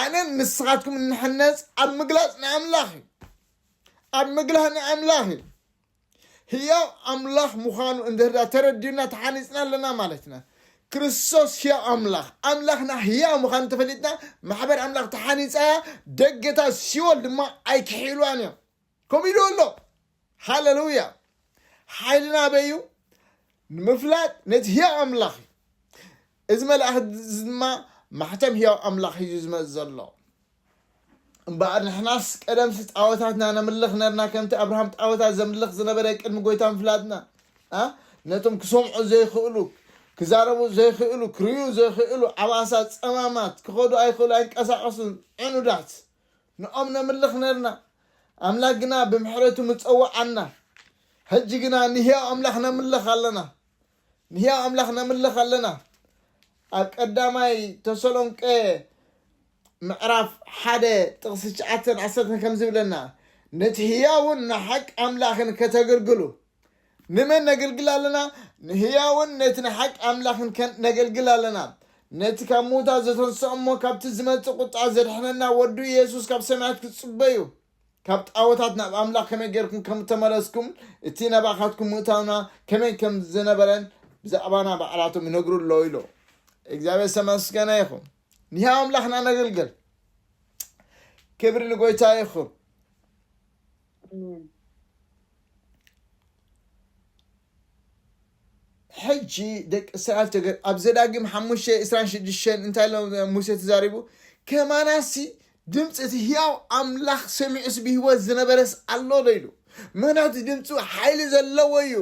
ኣነን ንስኻትኩም እንሕነጽ ኣብ ምግላጽ ንኣምላኽ እዩ ኣብ ምግላህ ንኣምላኽ እዩ ህያው ኣምላኽ ምዃኑ እንድህዳ ተረዲዩና ተሓኒፅና ኣለና ማለት ኢና ክርስቶስ ህያው ኣምላኽ ኣምላኽና ህያው ምዃኑ ተፈሊጥና ማሕበር ኣምላኽ ተሓኒፃ እያ ደገታት ሲኦል ድማ ኣይክሕኢሉዋን እዮም ከምኡ ኢሉ ኣሎ ሃለሉያ ሓይልና ኣበይ እዩ ንምፍላጥ ነቲ ህያው ኣምላኽ እዩ እዚ መልኣኽ እዚ ድማ ማሕተም ህያው ኣምላኽ ሒዙ ዝመፅ ዘሎ እምበኣር ንሕናስ ቀደምሲ ጣወታትና ነምልኽ ነርና ከምቲ ኣብርሃም ጣወታት ዘምልኽ ዝነበረ ቅድሚ ጎይታ ምፍላጥና ነቶም ክሰምዑ ዘይክእሉ ክዛረቡ ዘይክእሉ ክርዩ ዘይክእሉ ዓባሳ ፀማማት ክኸዱ ኣይክእሉ ኣይንቀሳቀሱን ዕኑዳት ንኦም ነምልኽ ነርና፣ ኣምላክ ግና ብምሕረቱ ምጸወዓና። ሕጂ ግና ንህያው ኣምላኽ ነምልኽ ኣለና። ንህያው ኣምላኽ ነምልኽ ኣለና። ኣብ ቀዳማይ ተሰሎንቄ ምዕራፍ ሓደ ጥቕሲ ትሽዓተን ዓሰርተን ከምዚ ይብለና፣ ነቲ ህያውን ንሓቂ ኣምላኽን ከተገልግሉ፣ ንመን ነገልግል ኣለና? ንህያውን ነቲ ንሓቂ ኣምላኽን ከ ነገልግል ኣለና። ነቲ ካብ ምዉታት ዘተንስኦ እሞ ካብቲ ዝመጽእ ቁጥዓ ዘድሕነና ወዱ የሱስ ካብ ሰማያት ክትጽበዩ ካብ ጣወታት ናብ ኣምላኽ ከመይ ጌርኩም ከም እተመለስኩም እቲ ናባኻትኩም ምእታውና ከመይ ከም ዝነበረን ብዛዕባና ባዕላቶም ይነግሩ ኣለዉ ኢሎ እግዚኣብሔር ዝተመስገነ ይኹን ንህያው ኣምላኽና ነገልግል ክብሪ ንጎይታ ይኹን ኣሜን። ሕጂ ደቂ እስራኤል ተገ ኣብ ዘዳግም ሓሙሽተ ዕስራን ሽዱሽተን እንታይ ኢሎ ሙሴ ተዛሪቡ ከማናሲ ድምፂ እቲ ህያው ኣምላኽ ሰሚዑስ ብህይወት ዝነበረስ ኣሎ ዶ ኢሉ ምክንያቱ ድምፁ ሓይሊ ዘለዎ እዩ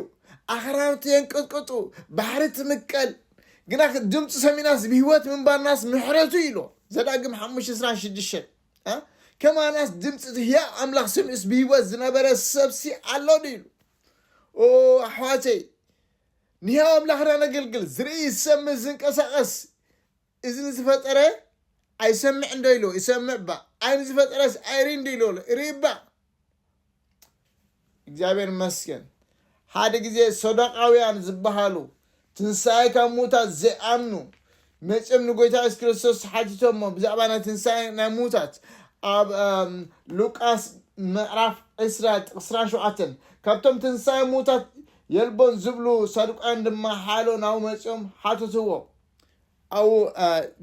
ኣኽራናት የንቅጥቅጡ ባሕሪ ትምቀል ግና ድምፁ ሰሚናስ ብህይወት ምንባርናስ ምሕረቱ ኢሎ ዘዳግም ሓሙሽተ ዕስራን ሽዱሽተን ከማናስ ድምፂ እቲ ህያው ኣምላኽ ስሚዑስ ብህይወት ዝነበረ ሰብሲ ኣሎ ድዩ ኢሉ ኦ ኣሕዋተይ ንህያው ኣምላኽና ነገልግል ዝርኢ ዝሰምዕ ዝንቀሳቐስ እዚ ንዝፈጠረ ኣይሰምዕ እንዶ ኢሎ ይሰምዕ ባ ዓይኒ ዝፈጠረስ ኣይርኢ እንዶ ኢሎ ርኢ ባ እግዚኣብሔር ይመስገን ሓደ ጊዜ ሶዶቃውያን ዝበሃሉ ትንሣኤ ካብ ሙታት ዘይኣምኑ መፅም ንጎይታ የሱስ ክርስቶስ ሓቲቶሞ ብዛዕባ ናይ ትንሣኤ ናይ ሙታት ኣብ እም፣ ሉቃስ ምዕራፍ 20 ጥቕስ 27 ካብቶም ትንሣኤ ሙታት የልቦን ዝብሉ ሳዱቃውያን ድማ ሓሎ ናብ መፅኦም ሓተትዎ ኣብኡ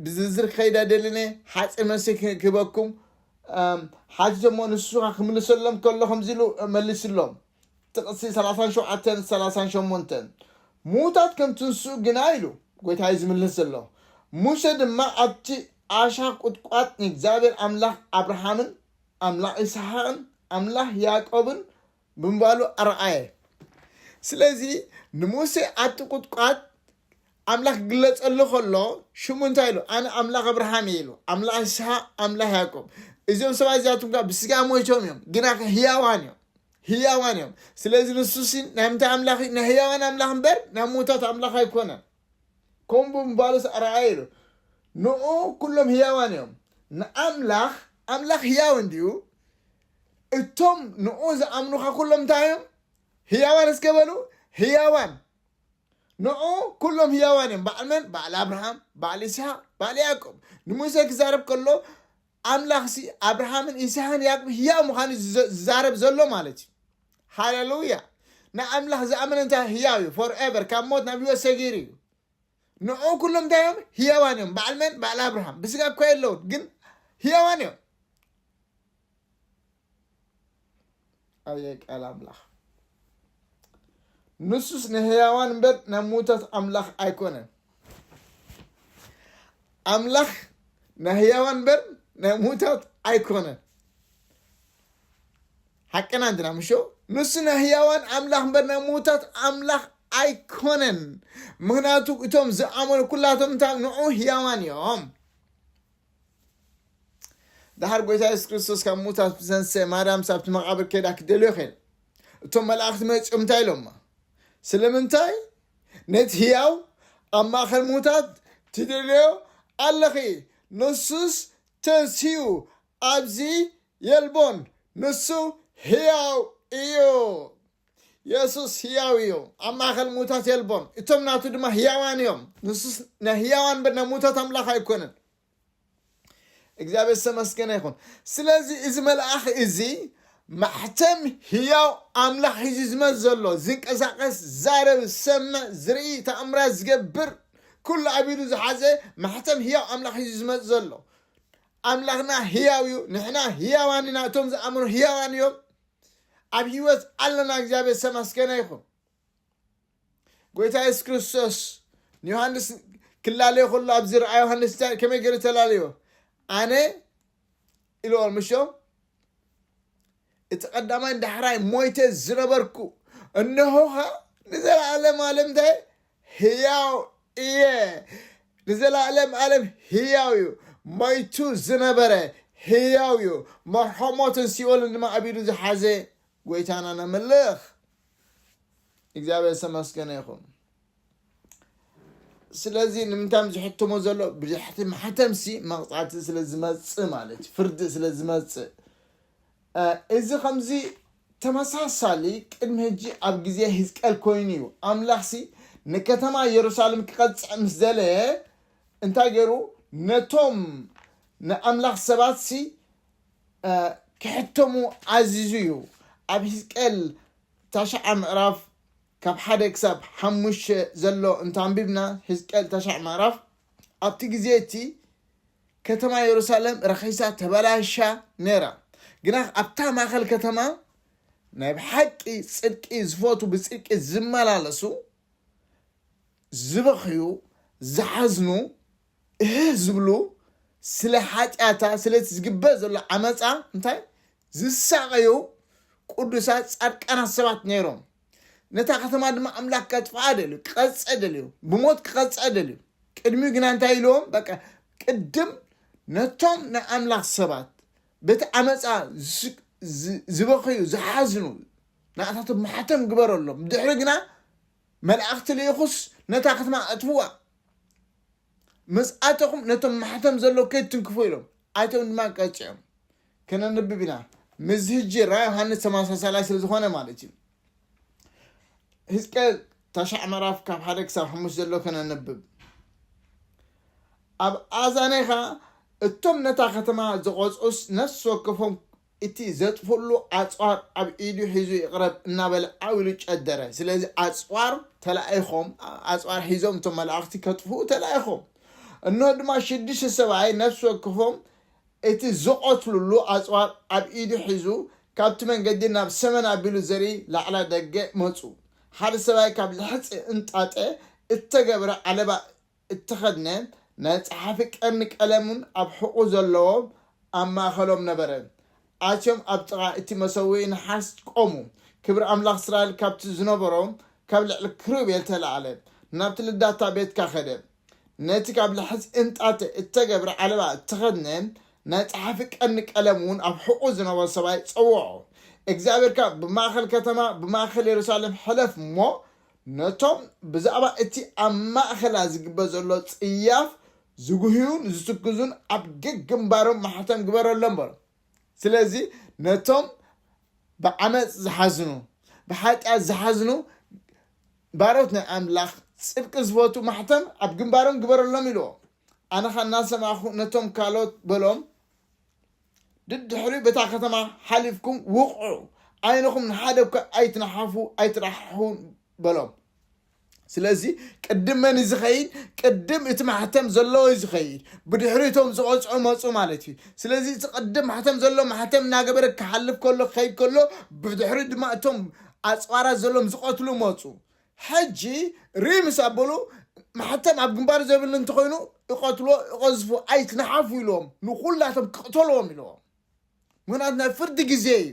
ብዝርዝር ክኸይድ ኣይደልን እየ፣ ሓጺር መልሲ ክህበኩም ሓቲቶሞ፣ ንሱ ከኣ ክምልሰሎም ከሎ ከምዚ ኢሉ መሊሱሎም፣ ጥቕሲ ሰላሳን ሸውዓተን ሰላሳን ሸሞንተን፣ ምዉታት ከም ትንስኡ ግና ኢሉ ጐይታ እዩ ዝምልስ ዘሎ፣ ሙሴ ድማ ኣብቲ ዓሻ ቍጥቋጥ ንእግዚኣብሄር ኣምላኽ ኣብርሃምን ኣምላኽ ይስሓቅን ኣምላኽ ያእቆብን ብምባሉ ኣርኣየ። ስለዚ ንሙሴ ኣብቲ ቍጥቋጥ ኣምላኽ ክግለጸሉ ከሎ ሽሙ እንታይ ኢሉ ኣነ ኣምላኽ ኣብርሃም እየ ኢሉ ኣምላኽ ይስሓቅ ኣምላኽ ያዕቆብ እዚኦም ሰባት እዚኣቶም ከዓ ብስጋ ሞይቶም እዮም ግና ህያዋን እዮም ህያዋን እዮም ስለዚ ንሱ ሲ ናይ ምንታይ ኣምላኽ እዩ ናይ ህያዋን ኣምላኽ እምበር ናይ ሞታት ኣምላኽ ኣይኮነን ከምኡ ብምባሉስ ኣርኣየ ኢሉ ንኡ ኩሎም ህያዋን እዮም ንኣምላኽ ኣምላኽ ህያው እንድዩ እቶም ንኡ ዝኣምኑኻ ኩሎም እንታይ እዮም ህያዋን እስከ በሉ ህያዋን ንዑ ኩሎም ህያዋን እዮም በዓል መን በዓል ኣብርሃም በዓል ይስሃቅ በዓል ያዕቆብ ንሙሴ ክዛረብ ከሎ ኣምላኽ ሲ ኣብርሃምን ይስሃን ያዕቆብ ህያው ምዃኑ ዝዛረብ ዘሎ ማለት እዩ ሃሌሉያ ንኣምላኽ ዝኣመነ እንታይ ህያው እዩ ፎር ኤቨር ካብ ሞት ናብ ህይወት ሰጊሩ እዩ ንዑ ኩሎም እንታይ እዮም ህያዋን እዮም በዓል መን በዓል ኣብርሃም ብስጋ እኳ የለውን ግን ህያዋን እዮም ኣየ ቃል ኣምላኽ ንሱስ ንህያዋን እምበር ናብ ምዉታት ኣምላኽ ኣይኮነን ኣምላኽ ናይ ህያዋን እምበር ናይ ምዉታት ኣይኮነን ሓቅና እንድና ምሾ ንሱ ናይ ህያዋን ኣምላኽ እምበር ናይ ምዉታት ኣምላኽ ኣይኮነን ምክንያቱ እቶም ዝኣመኑ ኩላቶም እንታይ ንዑ ህያዋን እዮም ድሓር ጎይታ የሱስ ክርስቶስ ካብ ሙታት ዝተንስአ ማርያም ሳብቲ መቓብር ከይዳ ክደልዮ ከይድ እቶም መላእኽቲ መፂኦም እንታይ ኢሎማ ስለምንታይ ነቲ ህያው ኣብ ማእኸል ሙታት ትደልዮ ኣለኺ ንሱስ ተንስኡ ኣብዚ የልቦን ንሱ ህያው እዩ የሱስ ህያው እዩ፣ ኣብ ማእከል ምዉታት የልቦን፣ እቶም ናቱ ድማ ህያዋን እዮም። ንሱስ ናይ ህያዋን እምበር ናይ ምዉታት ኣምላኽ ኣይኰነን። እግዚኣብሔር ዝተመስገነ ይኹን። ስለዚ እዚ መልኣኽ እዚ ማሕተም ህያው ኣምላኽ ሒዙ ዝመፅ ዘሎ ዝንቀሳቐስ ዛረብ ዝሰምዕ ዝርኢ ተኣምራት ዝገብር ኩሉ ኣብ ኢዱ ዝሓዘ ማሕተም ህያው ኣምላኽ እዩ ዝመፅ ዘሎ ኣምላኽና ህያው እዩ ንሕና ህያዋን ኢና እቶም ዝኣምኑ ህያዋን እዮም ኣብ ህይወት ኣለና እግዚኣብሔር ዝተመስገነ ይኹን ጎይታ የሱስ ክርስቶስ ንዮሃንስ ክላለዮ ከሎ ኣብዚ ረኣ ዮሃንስ ከመይ ገይሩ ተላለዮ ኣነ ኢልዎ ምሾ እቲ ቀዳማይ ዳሕራይ ሞይተ ዝነበርኩ እነሆኻ ንዘለኣለም ኣለም እንታይ ህያው እየ ንዘላእለም ኣለም ህያው እዩ ሞይቱ ዝነበረ ህያው እዩ መርሖ ሞትን ሲኦልን ድማ ኣብ ኢዱ ዝሓዘ ጎይታና ነምልኽ እግዚኣብሔር ዝተመስገነ ይኹን ስለዚ ንምንታይ ዝሕትሞ ዘሎ ብድሕቲ ማሕተምሲ መቕፃዕቲ ስለ ዝመፅእ ማለት ፍርዲ ስለ ዝመፅእ እዚ ኸምዚ ተመሳሳሊ ቅድሚ ሕጂ ኣብ ግዜ ህዝቅኤል ኮይኑ እዩ። ኣምላኽሲ ንከተማ የሩሳሌም ክቐጽዕ ምስ ደለየ እንታይ ገይሩ? ነቶም ንኣምላኽ ሰባትሲ ክሕተሙ ኣዚዙ እዩ። ኣብ ህዝቅኤል ታሽዓ ምዕራፍ ካብ ሓደ ክሳብ ሓሙሽተ ዘሎ እንተ ኣንቢብና ህዝቅኤል ታሽዓ ምዕራፍ ኣብቲ ግዜ እቲ ከተማ የሩሳሌም ረኺሳ ተበላሻ ነይራ። ግናኽ ኣብታ ማእከል ከተማ ናይ ብሓቂ ጽድቂ ዝፈቱ ብጽድቂ ዝመላለሱ ዝበኽዩ ዝሓዝኑ እህህ ዝብሉ ስለ ሓጢኣታ ስለቲ ዝግበር ዘሎ ዓመጻ እንታይ ዝሳቐዩ ቅዱሳት ጻድቃናት ሰባት ነይሮም። ነታ ከተማ ድማ ኣምላኽ ከጥፍኣ ደልዩ ክቐፅዕ ደልዩ ብሞት ክቐፅዕ ደልዩ ቅድሚኡ ግና እንታይ ኢልዎም በቃ ቅድም ነቶም ናይ ኣምላኽ ሰባት በቲ ዓመፃ ዝበኽዩ ዝሓዝኑ ንኣታቶም ማሕተም ግበረሎም ድሕሪ ግና መላእኽቲ ልኢኹስ ነታ ከተማ ኣጥፍዋ ምስ ኣተኹም ነቶም ማሕተም ዘሎ ከይትንክፉ ኢሎም ኣይቶም ድማ ቀፂዖም ከነንብብ ኢና ምስዚ ህጂ ራ ዮሃንስ ተመሳሳላይ ስለ ዝኾነ ማለት እዩ ህዝቀል ታሻዕ መራፍ ካብ ሓደ ክሳብ ሓሙሽ ዘሎ ከነንብብ ኣብ ኣዛኔኻ እቶም ነታ ከተማ ዝቆፅዑስ ነፍሲ ወከፎም እቲ ዘጥፍሉ ኣፅዋር ኣብ ኢዱ ሒዙ ይቕረብ እናበለ ዓው ኢሉ ጨደረ ስለዚ ኣፅዋር ተላኢኾም ኣፅዋር ሒዞም እቶም መላእኽቲ ከጥፍኡ ተላኢኾም እነሆ ድማ ሽዱሽተ ሰብኣይ ነፍሲ ወከፎም እቲ ዝቐትሉሉ ኣጽዋር ኣብ ኢዱ ሒዙ ካብቲ መንገዲ ናብ ሰመን ኣቢሉ ዘርኢ ላዕላይ ደገ መጹ። ሓደ ሰብኣይ ካብ ልሕጺ እንጣጠ እተገብረ ዓለባ እተኸድነ፣ ናይ ጸሓፊ ቀርኒ ቀለምን ኣብ ሕቖኡ ዘለዎ ኣብ ማእከሎም ነበረ። ኣትዮም ኣብ ጥቓ እቲ መሰውኢ ነሓስ ቈሙ። ክብሪ ኣምላኽ እስራኤል ካብቲ ዝነበሮ ካብ ልዕሊ ክሩቤል ተላዕለ፣ ናብቲ ልዳታ ቤትካ ከደ። ነቲ ካብ ላሕጺ እንጣጢዕ እተገብረ ዓለባ እተኸድነ፣ ናይ ጸሓፊ ቀርኒ ቀለም እውን ኣብ ሕቖኡ ዝነበሮ ሰብኣይ ጸውዖ። እግዚኣብሄር ከኣ ብማእከል ከተማ፣ ብማእከል የሩሳሌም ሕለፍ እሞ፣ ነቶም ብዛዕባ እቲ ኣብ ማእከላ ዝግበር ዘሎ ጽያፍ ዝጕህዩን ዝትክዙን ኣብ ገግምባሮም ማሕተም ግበረሎም በሎ። ስለዚ ነቶም ብዓመፅ ዝሓዝኑ ብሓጢኣት ዝሓዝኑ ባሮት ናይ ኣምላኽ ጽድቂ ዝፈቱ ማሕተም ኣብ ግንባሮም ግበረሎም ኢልዎ ኣነ ኸ እናሰማኹ ነቶም ካልኦት በሎም ድድሕሪ በታ ከተማ ሓሊፍኩም ውቕዑ ዓይንኹም ንሓደ እኳ ኣይትነሓፉ ኣይትራሕሑ በሎም ስለዚ ቅድም መን እዩ ዝኸይድ ቅድም እቲ ማሕተም ዘለዎ እዩ ዝኸይድ ብድሕሪ እቶም ዝቐፅዑ መፁ ማለት እዩ ስለዚ እቲ ቅድም ማሕተም ዘሎ ማሕተም እናገበረ ክሓልፍ ከሎ ክኸይድ ከሎ ብድሕሪ ድማ እቶም ኣፅዋራት ዘሎም ዝቐትሉ መፁ ሕጂ ርኢ ምስ ኣበሉ ማሕተም ኣብ ግንባር ዘብል እንተኾይኑ እቐትሎ እቐዝፉ ኣይትንሓፉ ኢሎም ንኩላቶም ክቕተልዎም ኢለዎም ምክንያቱ ናይ ፍርዲ ግዜ እዩ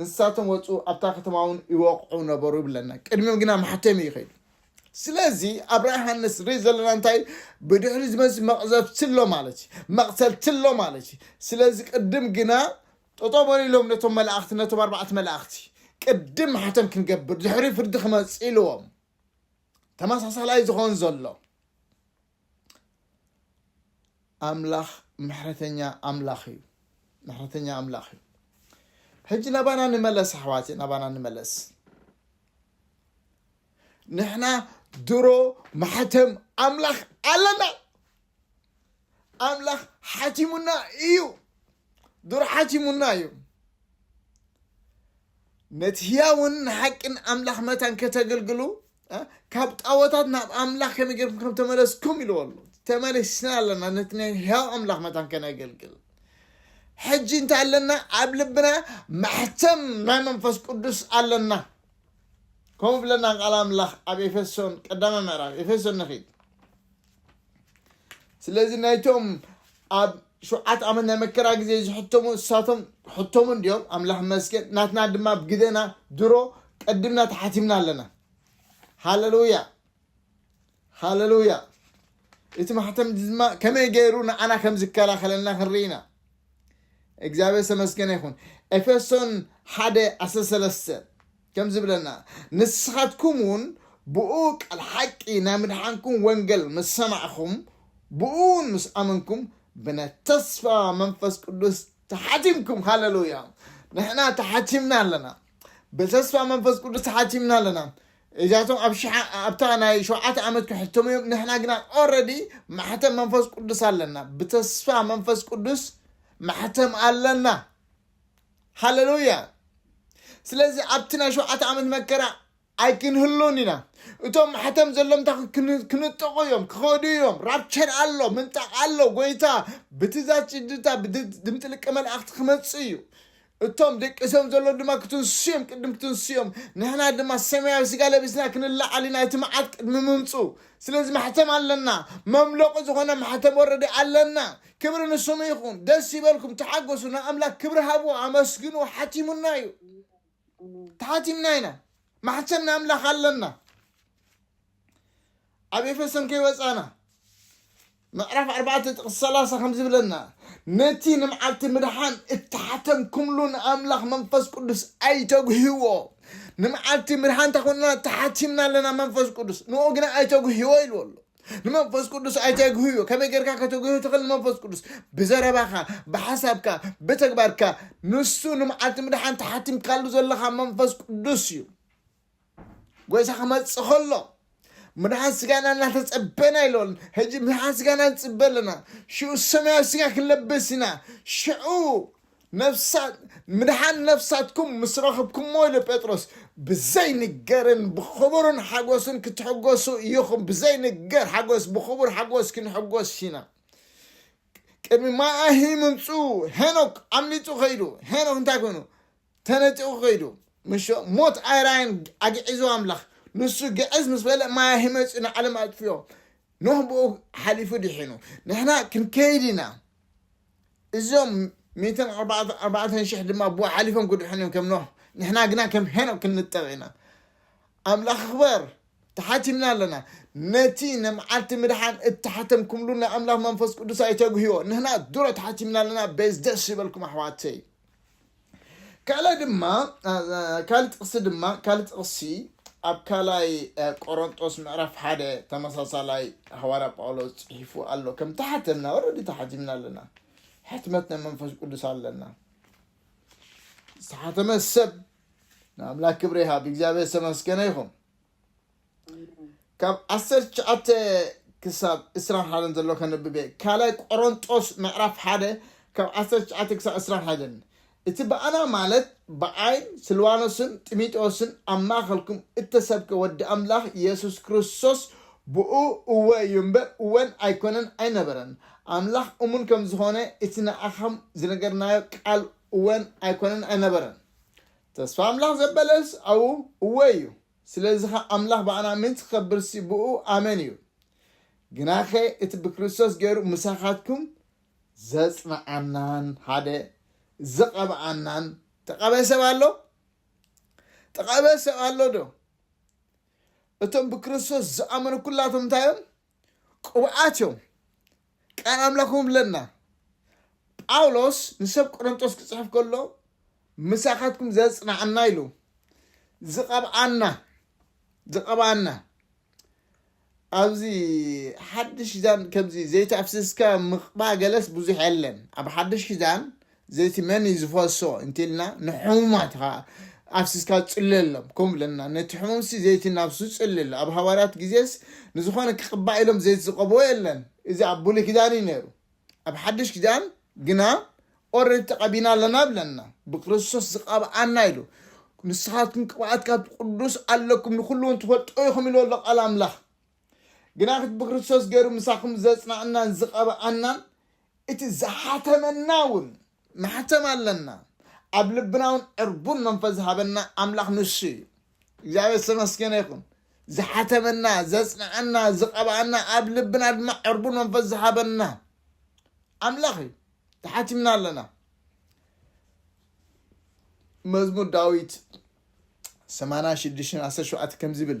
ንሳቶም ወጹ ኣብታ ከተማ ውን ይወቕዑ ነበሩ ይብለና ቅድሚም ግና ማሕተም እዩ ከይዱ ስለዚ ኣብራ ዮሃንስ ዝርኢ ዘለና እንታይ ብድሕሪ ዝመፅ መቕዘፍቲ ኣሎ ማለት እዩ መቕተልቲ ኣሎ ማለት እዩ ስለዚ ቅድም ግና ጠጦ በሪሎም ነቶም መላእኽቲ ነቶም ኣርባዕተ መላእኽቲ ቅድም ማሕተም ክንገብር ድሕሪ ፍርዲ ክመፅ ኢልዎም ተመሳሳላይ ዝኾን ዘሎ ኣምላኽ ምሕረተኛ ኣምላኽ እዩ ምሕረተኛ ኣምላኽ እዩ ሕጂ ናባና ንመለስ ኣሕዋት ናባና ንመለስ ንሕና ድሮ ማሕተም ኣምላኽ ኣለና ኣምላኽ ሓቲሙና እዩ ድሮ ሓቲሙና እዩ ነቲ ህያውን ንሓቅን ኣምላኽ መታን ከተገልግሉ ካብ ጣወታት ናብ ኣምላኽ ከመይ ጌርኩም ከም ተመለስኩም ኢልዎ ኣሎ ተመሊስና ኣለና ነቲ ናይ ህያው ኣምላኽ መታን ከነገልግል ሕጂ እንታይ ኣለና ኣብ ልብና ማሕተም ናይ መንፈስ ቅዱስ ኣለና ከምኡ ብለና ቃል ኣምላኽ ኣብ ኤፌሶን ቀዳማይ ምዕራፍ ኤፌሶን ንኺድ ስለዚ ናይቶም ኣብ ሸውዓት ዓመት ናይ መከራ ግዜ ዝሕተሙ እሳቶም ሕተሙ እንዲዮም ኣምላኽ መስገን ናትና ድማ ብግደና ድሮ ቀድምና ተሓቲምና ኣለና ሃለሉያ ሃለሉያ እቲ ማሕተም ድማ ከመይ ገይሩ ንዓና ከም ዝከላኸለና ክንርኢ ኢና እግዚኣብሔር ተመስገነ ይኹን ኤፌሶን ሓደ ዓሰርተ ሰለስተ ከም ዝብለና ንስኻትኩም ውን ብእኡ ቃል ሓቂ ናይ ምድሓንኩም ወንገል ምስ ሰማዕኹም ብእኡ ውን ምስ ኣመንኩም ብነት ተስፋ መንፈስ ቅዱስ ተሓቲምኩም ሃለሉያ ንሕና ተሓቲምና ኣለና ብተስፋ መንፈስ ቅዱስ ተሓቲምና ኣለና እዚኣቶም ኣብ ሽሓ ኣብታ ናይ ሸውዓተ ዓመት ክሕተሙ እዮም ንሕና ግና ኦረዲ ማሕተም መንፈስ ቅዱስ ኣለና ብተስፋ መንፈስ ቅዱስ ማሕተም ኣለና ሃለሉያ ስለዚ ኣብቲ ናይ ሸውዓተ ዓመት መከራ ኣይክንህሉን ኢና እቶም ማሕተም ዘሎም እንታይ ክን- ክንጠቑ እዮም ክኸዱ እዮም ራፕቸር ኣሎ ምንጣቕ ኣሎ ጎይታ ብትእዛዝ ጭድታ ድምፂ ልቀ መላእኽቲ ክመፅእ እዩ እቶም ደቂሶም ዘሎ ድማ ክትንሱ እዮም ቅድም ክትንሱ እዮም ንሕና ድማ ሰማያዊ ስጋ ለቢስና ክንለዓል ኢና እቲ መዓት ቅድሚ ምምፁ ስለዚ ማሕተም ኣለና መምለቑ ዝኾነ ማሕተም ወረዲ ኣለና ክብሪ ንስሙ ይኹን ደስ ይበልኩም ተሓጎሱ ንኣምላክ ክብሪ ሃብዎ ኣመስግንዎ ሓቲሙና እዩ ተሓቲምና ኢና ማሕተም ንኣምላኽ ኣለና ኣብ ኤፌሶን ከይወፃና ምዕራፍ ኣርባዕተ ጥቕስ ሰላሳ ከም ዝብለና ነቲ ንመዓልቲ ምድሓን እተሓተምኩምሉ ንኣምላኽ መንፈስ ቅዱስ ኣይተጉህዎ ንመዓልቲ ምድሓን እንተ ተሓቲምና ኣለና መንፈስ ቅዱስ ንኡ ግና ኣይተጉህዎ ኢልዎ ኣሎ ንመንፈስ ቅዱስ ኣይተግህዮ ከመይ ጌርካ ከተግህዮ ትኽእል ንመንፈስ ቅዱስ ብዘረባኻ ብሓሳብካ ብተግባርካ ንሱ ንመዓልቲ ምድሓን ተሓቲምካሉ ዘለኻ መንፈስ ቅዱስ እዩ ጎይታ ክመፅእ ከሎ ምድሓን ስጋና እናተፀበና ኢሎን ሕጂ ምድሓን ስጋና ንፅበ ኣለና ሽዑ ሰማያዊ ስጋ ክንለብስ ኢና ሽዑ ምድሓን ነፍሳትኩም ምስ ረኽብኩምዎ ኢሉ ጴጥሮስ፣ ብዘይንገርን ብኽቡርን ሓጐስን ክትሕጐሱ ኢኹም። ብዘይንገር ሓጐስ፣ ብኽቡር ሓጐስ ክንሕጐስ ኢና። ቅድሚ ማይ-ኣሂ ምምጽኡ ሄኖክ ኣምሊጡ ከይዱ። ሄኖክ እንታይ ኮይኑ? ተነጢቑ ከይዱ። ምሾ ሞት ኣይራየን ኣግዒዙ ኣምላኽ። ንሱ ግዕዝ ምስ በለ ማይ-ኣሂ መጺኡ ንዓለም ኣጥፍዮ። ኖህ ብኡ ሓሊፉ ድሒኑ። ንሕና ክንከይድ ኢና። እዞም ሚእትን ኣርባዕተን ሽሕ ድማ ብኡ ሓሊፎም ክድሕኑ እዮም ከም ኖህ ንሕና ግና ከም ሄኖክ ክንጠቕ ኢና ኣምላኽ ክበር ተሓቲምና ኣለና ነቲ ንመዓልቲ ምድሓን እተሓተምኩምሉ ናይ ኣምላኽ መንፈስ ቅዱስ ኣይተግህዮ ንሕና ድሮ ተሓቲምና ኣለና ቤዝ ደስ ይበልኩም ኣሕዋተይ ካልእ ድማ ካልእ ጥቕሲ ድማ ካልእ ጥቕሲ ኣብ ካልኣይ ቆሮንጦስ ምዕራፍ ሓደ ተመሳሳላይ ሃዋርያ ጳውሎስ ጽሒፉ ኣሎ ከም ተሓተምና ወረዲ ተሓቲምና ኣለና ሕትመት ናይ መንፈስ ቅዱስ ኣለና ዝተሓተመ ሰብ ንኣምላክ ክብሪ ይሃብ እግዚኣብሔር ዝተመስገነ ይኹን ካብ ዓሰርተ ትሽዓተ ክሳብ ዕስራን ሓደን ዘሎ ከንብብ እየ ካልኣይ ቆሮንጦስ ምዕራፍ ሓደ ካብ ዓሰርተ ትሽዓተ ክሳብ ዕስራን ሓደን እቲ ብኣና ማለት ብዓይን ስልዋኖስን ጢሚጦስን ኣብ ማእኸልኩም እተሰብከ ወዲ ኣምላኽ የሱስ ክርስቶስ ብኡ እወ እዩ እምበር እወን ኣይኮነን ኣይነበረን ኣምላኽ እሙን ከም ዝኾነ እቲ ንኣኻም ዝነገርናዮ ቃል እወን ኣይኮነን ኣይነበረን ተስፋ ኣምላኽ ዘበለስ ኣብኡ እወ እዩ ስለዚ ኸኣ ኣምላኽ ብኣና ምእንቲ ክኸብርሲ ብእኡ ኣመን እዩ። ግናኸ እቲ ብክርስቶስ ገይሩ ምሳኻትኩም ዘጽንዓናን ሓደ ዝቐብኣናን ተቐብኤ ሰብ ኣሎ? ተቐብኤ ሰብ ኣሎዶ? እቶም ብክርስቶስ ዝኣመኑ ኩላቶም እንታይ እዮም? ቅቡኣት እዮም ቃል ኣምላኽ እውን ብለና ጳውሎስ ንሰብ ቆረንጦስ ክጽሕፍ ከሎ ምሳኻትኩም ዘጽናዕና ኢሉ ዝቐብኣና ዝቐብኣና ኣብዚ ሓድሽ ኪዳን ከምዚ ዘይተኣፍስስካ ምቕባ ገለስ ብዙሕ የለን ኣብ ሓድሽ ኪዳን ዘይቲ መን እዩ ዝፈሶ እንቲልና ንሕሙማት ኸኣ ኣፍሲስካ ጽለሎም ከም ብለና ነቲ ሕሙምሲ ዘይቲ ናብሱ ጽልል ኣብ ሃዋርያት ግዜስ ንዝኾነ ክቕባእ ኢሎም ዘይቲ ዝቐብኦ የለን እዚ ኣብ ብሉይ ኪዳን እዩ ነይሩ ኣብ ሓድሽ ኪዳን ግና ኦረዲ ተቐቢና ኣለና ብለና ብክርስቶስ ዝቐብኣና ኢሉ ንስኻትኩም ቅብኣት ካብ ቅዱስ ኣለኩም ንኹሉ እውን ትፈልጦ ኢኹም ኢሉ ኣሎ ቃል ኣምላኽ ግናኽ ብክርስቶስ ገይሩ ምሳኹም ዘጽናዕናን ዝቐብኣናን እቲ ዝሓተመና እውን ማሕተም ኣለና ኣብ ልብና እውን ዕርቡን መንፈስ ዝሃበና ኣምላኽ ንሱ እዩ እግዚኣብሔር ዝተመስገነ ይኹን ዝሓተመና ዘጽንዓና ዝቐብኣና ኣብ ልብና ድማ ዕርቡን መንፈስ ዝሃበና ኣምላኽ እዩ ተሓቲምና ኣለና መዝሙር ዳዊት 86 17 ከምዚ ይብል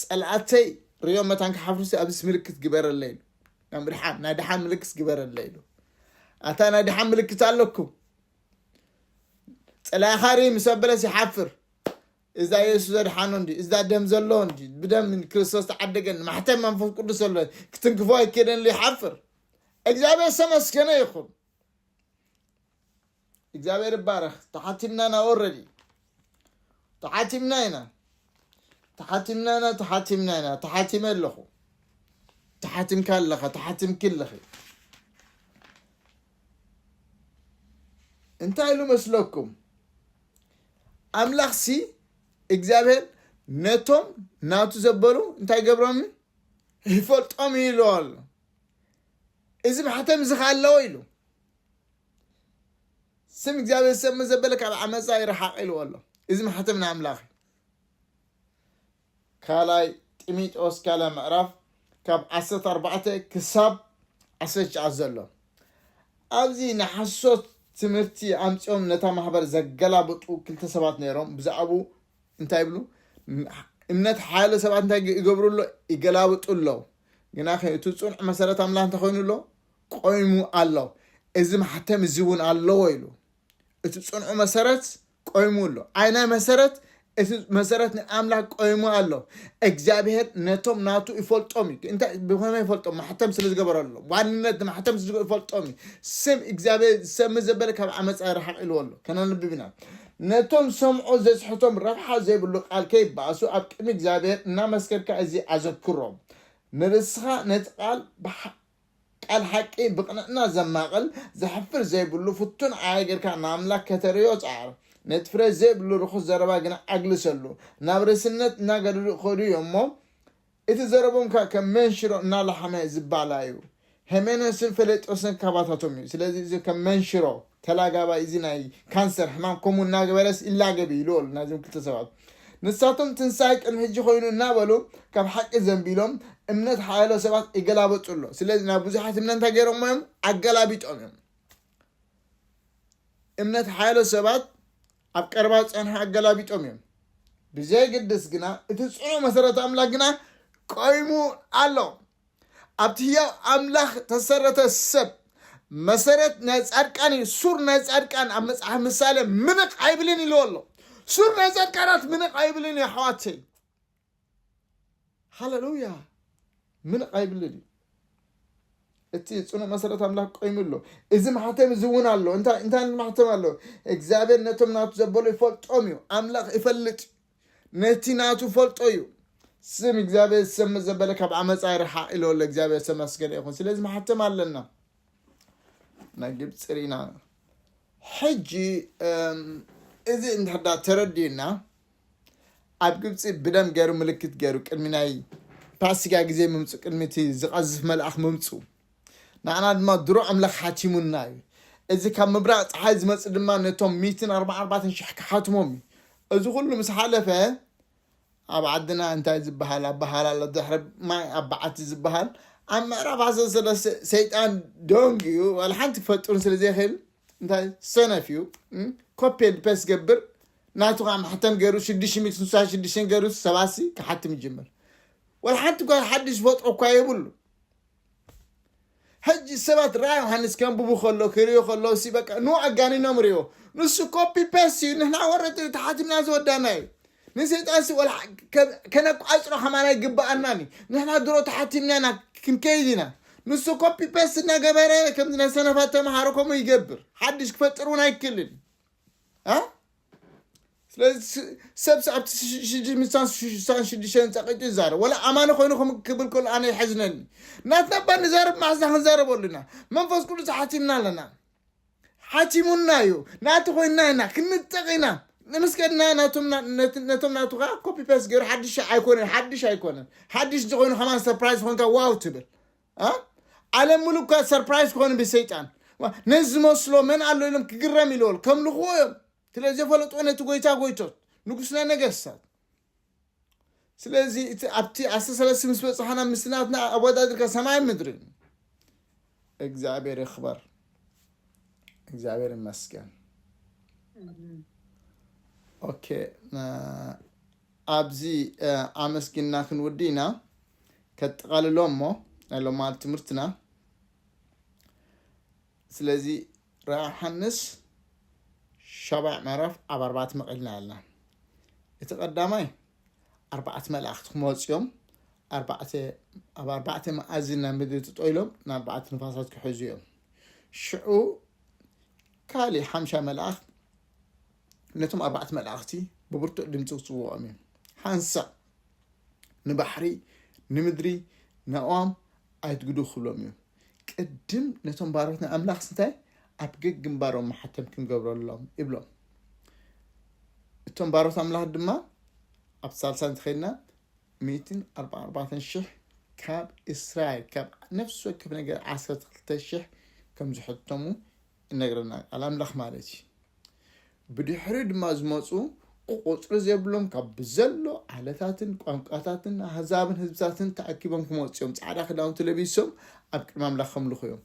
ጸላኣተይ ሪኦም መታን ክሓፍሩሲ ኣብዚስ ምልክት ግበረለይ ኢሉ ናይ ምድሓን ናይ ድሓን ምልክት ግበረለይ ኢሉ ኣታ ናይ ድሓን ምልክት ኣለኩም ጸላኢኻ ርኢ ምስ ኣበለስ ይሓፍር እዛ የሱስ ዘድሓኖ እንዲ እዛ ደም ዘለዎ እንዲ ብደም ክርስቶስ ተዓደገኒ ማሕተም መንፈስ ቅዱስ ኣሎ ክትንክፎ ኣይከደን ይሓፍር እግዚኣብሔር ዝተመስገነ ይኹን እግዚኣብሔር ይባረክ ተሓቲምና ኢና ኦረዲ ተሓቲምና ኢና ተሓቲምና ኢና ተሓቲምና ኢና ተሓቲመ ኣለኹ ተሓቲምካ ኣለኻ ተሓቲምኪ ኣለኺ እንታይ ኢሉ መስለኩም ኣምላኽ ሲ እግዚኣብሔር ነቶም ናቱ ዘበሉ እንታይ ገብሮም ይፈልጦም ኢሉ ኣሎ እዚ ማሕተም እዚ ከ ኣለዎ ኢሉ ስም እግዚኣብሔር ሰብ መዘበለ ካብ ዓመፃ ይረሓቅ ኢልዎ ኣሎ እዚ ማሕተም ንኣምላኽ እዩ ካልኣይ ጢሚጦስ ካልኣይ ምዕራፍ ካብ ዓሰርተ ኣርባዕተ ክሳብ ዓሰርተ ትሽዓተ ዘሎ ኣብዚ ንሓሶት ትምህርቲ ኣምፅኦም ነታ ማሕበር ዘገላብጡ ክልተ ሰባት ነይሮም ብዛዕቡ እንታይ ይብሉ እምነት ሓያለ ሰባት እንታይ ይገብሩ ኣሎ ይገላብጡ ኣለዉ ግና እቲ ፅኑዕ መሰረት ኣምላኽ እንተኮይኑ ኣሎ ቆይሙ ኣሎ። እዚ ማሕተም እዚ እውን ኣለዎ ኢሉ። እቲ ፅንዑ መሰረት ቆይሙ ኣሎ። ኣይናይ መሰረት እቲ መሰረት ናይ ኣምላክ ቆይሙ ኣሎ። እግዚኣብሔር ነቶም ናቱ ይፈልጦም እዩ። እንታይ ብኸመይ ይፈልጦም? ማሕተም ስለ ዝገበረሎም ዋንነት ንማሕተም ስለ ዝገ- ይፈልጦም እዩ። ስም እግዚኣብሔር ዝሰምእ ዘበለ ካብ ዓመፃ ይርሓቕ ኢልዎ ኣሎ። ከነንብብ ኢና። ነቶም ዝሰምዑ ዘስሕቶም ረብሓ ዘይብሉ ቃል ከይበኣሱ ኣብ ቅድሚ እግዚኣብሔር እናመስከርካ እዚ ኣዘክሮም። ንርእስኻ ነቲ ቃል ብሓ- ቃል ሓቂ ብቅንዕና ዘማቅል ዘሕፍር ዘይብሉ ፍቱን ዓያ ጌርካ ንኣምላክ ከተርእዮ ጸዓር ነቲ ፍረ ዘይብሉ ርኹስ ዘረባ ግና ኣግልሰሉ ናብ ሬስነት እናገደዱ ይኸዱ እዮም እሞ እቲ ዘረብኦም ከኣ ከም መንሽሮ እናላሓመ ዝባላ እዩ ሄሜኖስን ፈሌጦስን ካባታቶም እዩ ስለዚ እዚ ከም መንሽሮ ተላጋባይ እዚ ናይ ካንሰር ሕማም ከምኡ እናገበረስ ይላገብ እዩ ኢሉ ኣሎ ናይዞም ክልተ ሰባት ንሳቶም ትንሳኤ ቅድሚ ሕጂ ኮይኑ እናበሉ ካብ ሓቂ ዘንቢሎም እምነት ሓያሎ ሰባት ይገላበጡ ኣሎ ስለዚ ናብ ብዙሓት እምነት እንታይ ገይሮሞ እዮም ኣገላቢጦም እዮም እምነት ሓያሎ ሰባት ኣብ ቀረባ ዝፀንሑ ኣገላቢጦም እዮም ብዘይግድስ ግና እቲ ፅኑ መሰረት ኣምላክ ግና ቆይሙ ኣሎ ኣብቲ ህያው ኣምላኽ ተሰረተ ሰብ መሰረት ናይ ጻድቃን እዩ ሱር ናይ ጻድቃን ኣብ መጽሓፍ ምሳሌ ምንቕ ኣይብልን ኢልዎ ኣሎ ሱር ናይ ጻድቃናት ምንቕ ኣይብልን እዩ ኣሕዋተይ ሃለሉያ ምንቕ ኣይብልን እዩ እቲ ፅኑዕ መሰረት ኣምላኽ ቆይሙ ኣሎ እዚ ማሕተም እዚ እውን ኣሎ እንታይ ማሕተም ኣሎ እግዚኣብሔር ነቶም ናቱ ዘበሉ ይፈልጦም እዩ ኣምላኽ ይፈልጥ ነቲ ናቱ ፈልጦ እዩ ስም እግዚኣብሔር ዝሰምዕ ዘበለ ካብ ዓመፃ ይርሓቅ ኢሎ ኣሎ እግዚኣብሔር ዝተመስገነ ይኹን ስለዚ መሓተም ኣለና ናይ ግብፂ ርኢና ሕጂ እም፣ እዚ እንድሕዳ ተረዲዩና ኣብ ግብፂ ብደም ገይሩ ምልክት ገይሩ ቅድሚ ናይ ፋሲጋ ግዜ ምምፁ ቅድሚ እቲ ዝቐዝፍ መልኣኽ ምምፁ ንዓና ድማ ድሮ ኣምላኽ ሓቲሙልና እዩ። እዚ ካብ ምብራቕ ጸሓይ ዝመጽእ ድማ ነቶም ሚእትን ኣርባዓን ኣርባዕተን ሽሕ ክሓትሞም እዩ። እዚ ኩሉ ምስ ሓለፈ ኣብ ዓድና እንታይ ዝበሃል ኣበሃላ ኣሎ ድሕሪ ማይ ኣብ በዓቲ ዝበሃል ኣብ ምዕራብ ኣሰ ስለ ሰይጣን ደንግ እዩ ዋላ ሓንቲ ክፈጥሩን ስለ ዘይክእል እንታይ ሰነፍ እዩ ኮፔ ፔስ ገብር ናቱ ከዓ ማሕተም ገይሩ ሽዱሽተ ሚእቲ ስሳ ሽዱሽተን ገይሩ ሰባሲ ክሓትም ይጅምር ዋላ ሓንቲ ጓል ሓድሽ ዝፈጥሮ እኳ የብሉ ሕጂ ሰባት ራእይ ዮሓንስ ከንብቡ ከሎ ክርእዩ ከለዉ ሲ በቃ ን ኣጋኒኖም ርእዎ ንሱ ኮፒ ፔስት እዩ ንሕና ወረቲ እዩ ተሓቲምና ዝወዳና እዩ ንሰይጣን ሲ ወላ ከነቋጽሮ ከማን ኣይግባኣናን እዩ ንሕና ድሮ ተሓቲምና ኢና ክንከይድ ኢና ንሱ ኮፒ ፔስት እናገበረ ከምዚ ናይ ሰነፋት ተምሃሮ ከምኡ ይገብር ሓድሽ ክፈጥር እውን ኣይክልን ሰብ ኣብቲ ሽዱሽተ ዝፃቀጭ ይዛረብ ወላ ኣማኒ ኮይኑ ክብል ከሎ ኣነ ይሐዝነኒ ናትና እባ ንዛረብ ማሕዛ ክንዛረበሉ ኢና መንፈስ ቅዱስ ሓቲምና ኣለና ሓቲሙና እዩ ናቲ ኮይና ኢና ክንጠቕ ኢና ንምስከድና ነቶም ናቱ ከዓ ኮፒ ፔስ ገይሩ ሓድሽ ኣይኮነን ሓድሽ ኣይኮነን ሓድሽ ዝኾይኑ ከማን ሰርፕራይዝ ኮንካ ዋው ትብል ዓለም ሙሉ እኳ ሰርፕራይዝ ክኾኑ ብሰይጣን ነዚ ዝመስሎ መን ኣሎ ኢሎም ክግረም ኢለዎል ከምልኽዎ እዮም ስለ ዘፈለጥዎ ነቲ ጎይታ ጎይቶት ንጉስና ነገስታት ስለዚ እቲ ኣብቲ ዓሰርተ ሰለስተ ምስ በፅሓና ምስናትና ኣወዳድርካ ሰማይ ምድሪ እግዚኣብሔር ይኽበር እግዚኣብሔር ይመስገን ኦኬ ኣብዚ ኣመስግና ክንውዲ ኢና ከጠቓልሎ እሞ ናይ ሎማዓንቲ ትምህርትና ስለዚ ራእይ ሓንስ ሻባዕ ምዕራፍ ኣብ ኣርባዕት መቐልና ኣለና እቲ ቀዳማይ ኣርባዕት መላእኽቲ ክመፁ እዮም ኣብ ኣርባዕተ መኣዚ ናብ ምድሪ ትጠይሎም ንኣርባዕተ ንፋሳት ክሕዙ እዮም ሽዑ ካልእ ሓምሻ መላእኽት ነቶም ኣርባዕተ መላእኽቲ ብብርቱዕ ድምፂ ክፅውዖም እዩ ሓንሳእ ንባሕሪ ንምድሪ ንኣእዋም ኣይትግዱ ክብሎም እዩ ቅድም ነቶም ባሮት ናይ ኣምላኽ ስንታይ ኣብ ገግ ግንባሮም መሓተም ክንገብረሎም ይብሎም እቶም ባሮት ኣምላኽ ድማ ኣብ ሳልሳ እንተኸድና ሚእትን ኣርባ ኣርባዕተን ሽሕ ካብ እስራኤል ካብ ነፍሲ ወከፍ ነገር ዓሰርተ ክልተ ሽሕ ከም ዝሕተሙ እነግረና ቃል ኣምላኽ ማለት እዩ ብድሕሪ ድማ ዝመፁ ቁፅሪ ዘይብሎም ካብ ብዘሎ ዓለታትን ቋንቋታትን ኣህዛብን ህዝብታትን ተኣኪቦም ክመፁ እዮም ፃዕዳ ክዳውንቲ ለቢሶም ኣብ ቅድሚ ኣምላኽ ከምልኹ እዮም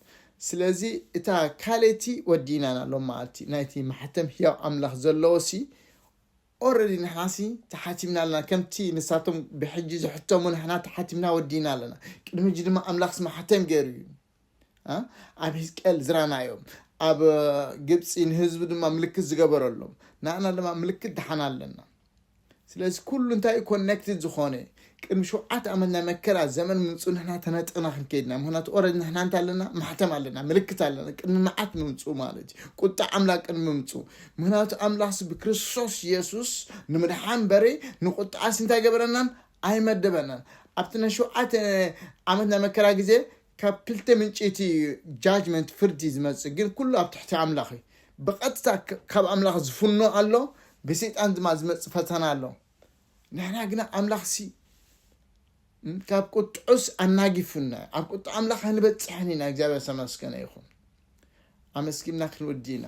ስለዚ እታ ካልእቲ ወዲእናን ኣሎ ማለቲ ናይቲ ማሕተም ህያው ኣምላኽ ዘለዎ ሲ ኦረዲ ንሕና ሲ ተሓቲምና ኣለና ከምቲ ንሳቶም ብሕጂ ዝሕተሙ ንሕና ተሓቲምና ወዲእና ኣለና ቅድሚ ሕጂ ድማ ኣምላኽ ስማሕተም ገይሩ እዩ ኣብ ህዝቅኤል ዝራናዮም ኣብ ግብፂ ንህዝቢ ድማ ምልክት ዝገበረሎም ንኣና ድማ ምልክት ድሓና ኣለና ስለዚ ኩሉ እንታይ እዩ ኮኔክትድ ዝኾነ ቅድሚ ሸውዓተ ዓመት ናይ መከራ ዘመን ምምፁ ንሕና ተነጥቕና ክንከይድና ምክንያቱ ኦረድ ንሕና እንታ ኣለና ማሕተም ኣለና ምልክት ኣለና ቅድሚ መዓት ምምፁ ማለት እዩ ቁጣ ኣምላኽ ቅድሚ ምምፁ ምክንያቱ ኣምላኽሲ ብክርስቶስ የሱስ ንምድሓን በረ ንቁጣኣስ እንታይ ገበረናን ኣይመደበናን። ኣብቲ ናይ ሸውዓተ ዓመት ናይ መከራ ግዜ ካብ ክልተ ምንጪ እቲ ጃጅመንት ፍርዲ ዝመጽእ ግን ኩሉ ኣብ ትሕቲ ኣምላኽ እዩ። ብቐጥታ ካብ ኣምላኽ ዝፍኖ ኣሎ፣ ብሰይጣን ድማ ዝመጽእ ፈተና ኣሎ። ንሕና ግና ኣምላኽሲ ካብ ቁጥዑስ ኣናጊፉና ኣብ ቁጥዓ ኣምላኽ ኣይንበጽሕን ኢና። እግዚኣብሔር ዝተመስገነ ይኹን። ኣመስጊና ክንውዲ ኢና።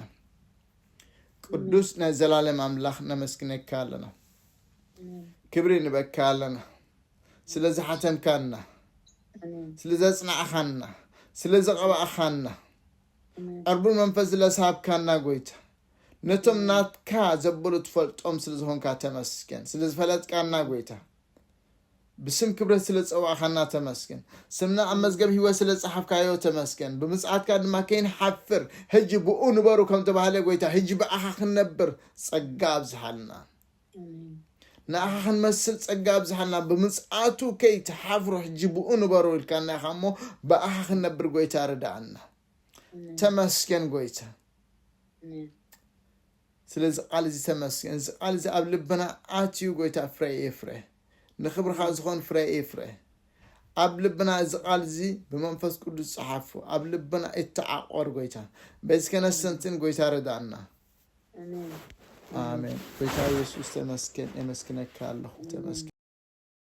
ቅዱስ ናይ ዘላለም ኣምላኽ ነመስግነካ ኣለና ክብሪ ንበካ ኣለና ስለ ዝሓተምካና ስለ ዘጽናዕኻና ስለ ዘቐባእኻና ዕርቡ መንፈስ ዝለሳብካና ጎይታ ነቶም ናትካ ዘበሉ ትፈልጦም ስለ ዝኾንካ ተመስገን ስለ ዝፈለጥካና ጎይታ ብስም ክብረት ስለ ዝጸዋዕካና ተመስገን። ስምና ኣብ መዝገብ ህይወት ስለ ዝጸሓፍካዮ ተመስገን። ብምጽኣትካ ድማ ከይንሓፍር ህጂ ብእኡ ንበሩ ከም ተባህለ ጎይታ ህጂ ብኣኻ ክንነብር ጸጋ ኣብዝሓልና። ንኣኻ ክንመስል ጸጋ ኣብዝሓልና። ብምጽኣቱ ከይትሓፍሩ ሕጂ ብኡ ንበሩ ኢልካና ኢኻ እሞ ብኣኻ ክንነብር ጎይታ ርድኣና። ተመስገን ጎይታ። ስለዚ ቃል እዚ ተመስገን እዚ ቃል እዚ ኣብ ልብና ኣትዩ ጎይታ ፍረ የፍረ ንክብርካ ዝኮን ፍረ የፍረ ኣብ ልብና እዚ ቃል እዚ ብመንፈስ ቅዱስ ጸሓፉ ኣብ ልብና እተዓቆር ጎይታ በዚ ከነሰንትን ጎይታ ረዳእና ኣሜን ጎይታ ኢየሱስ ተመስገን የመስግነካ ኣለኹ ተመስገን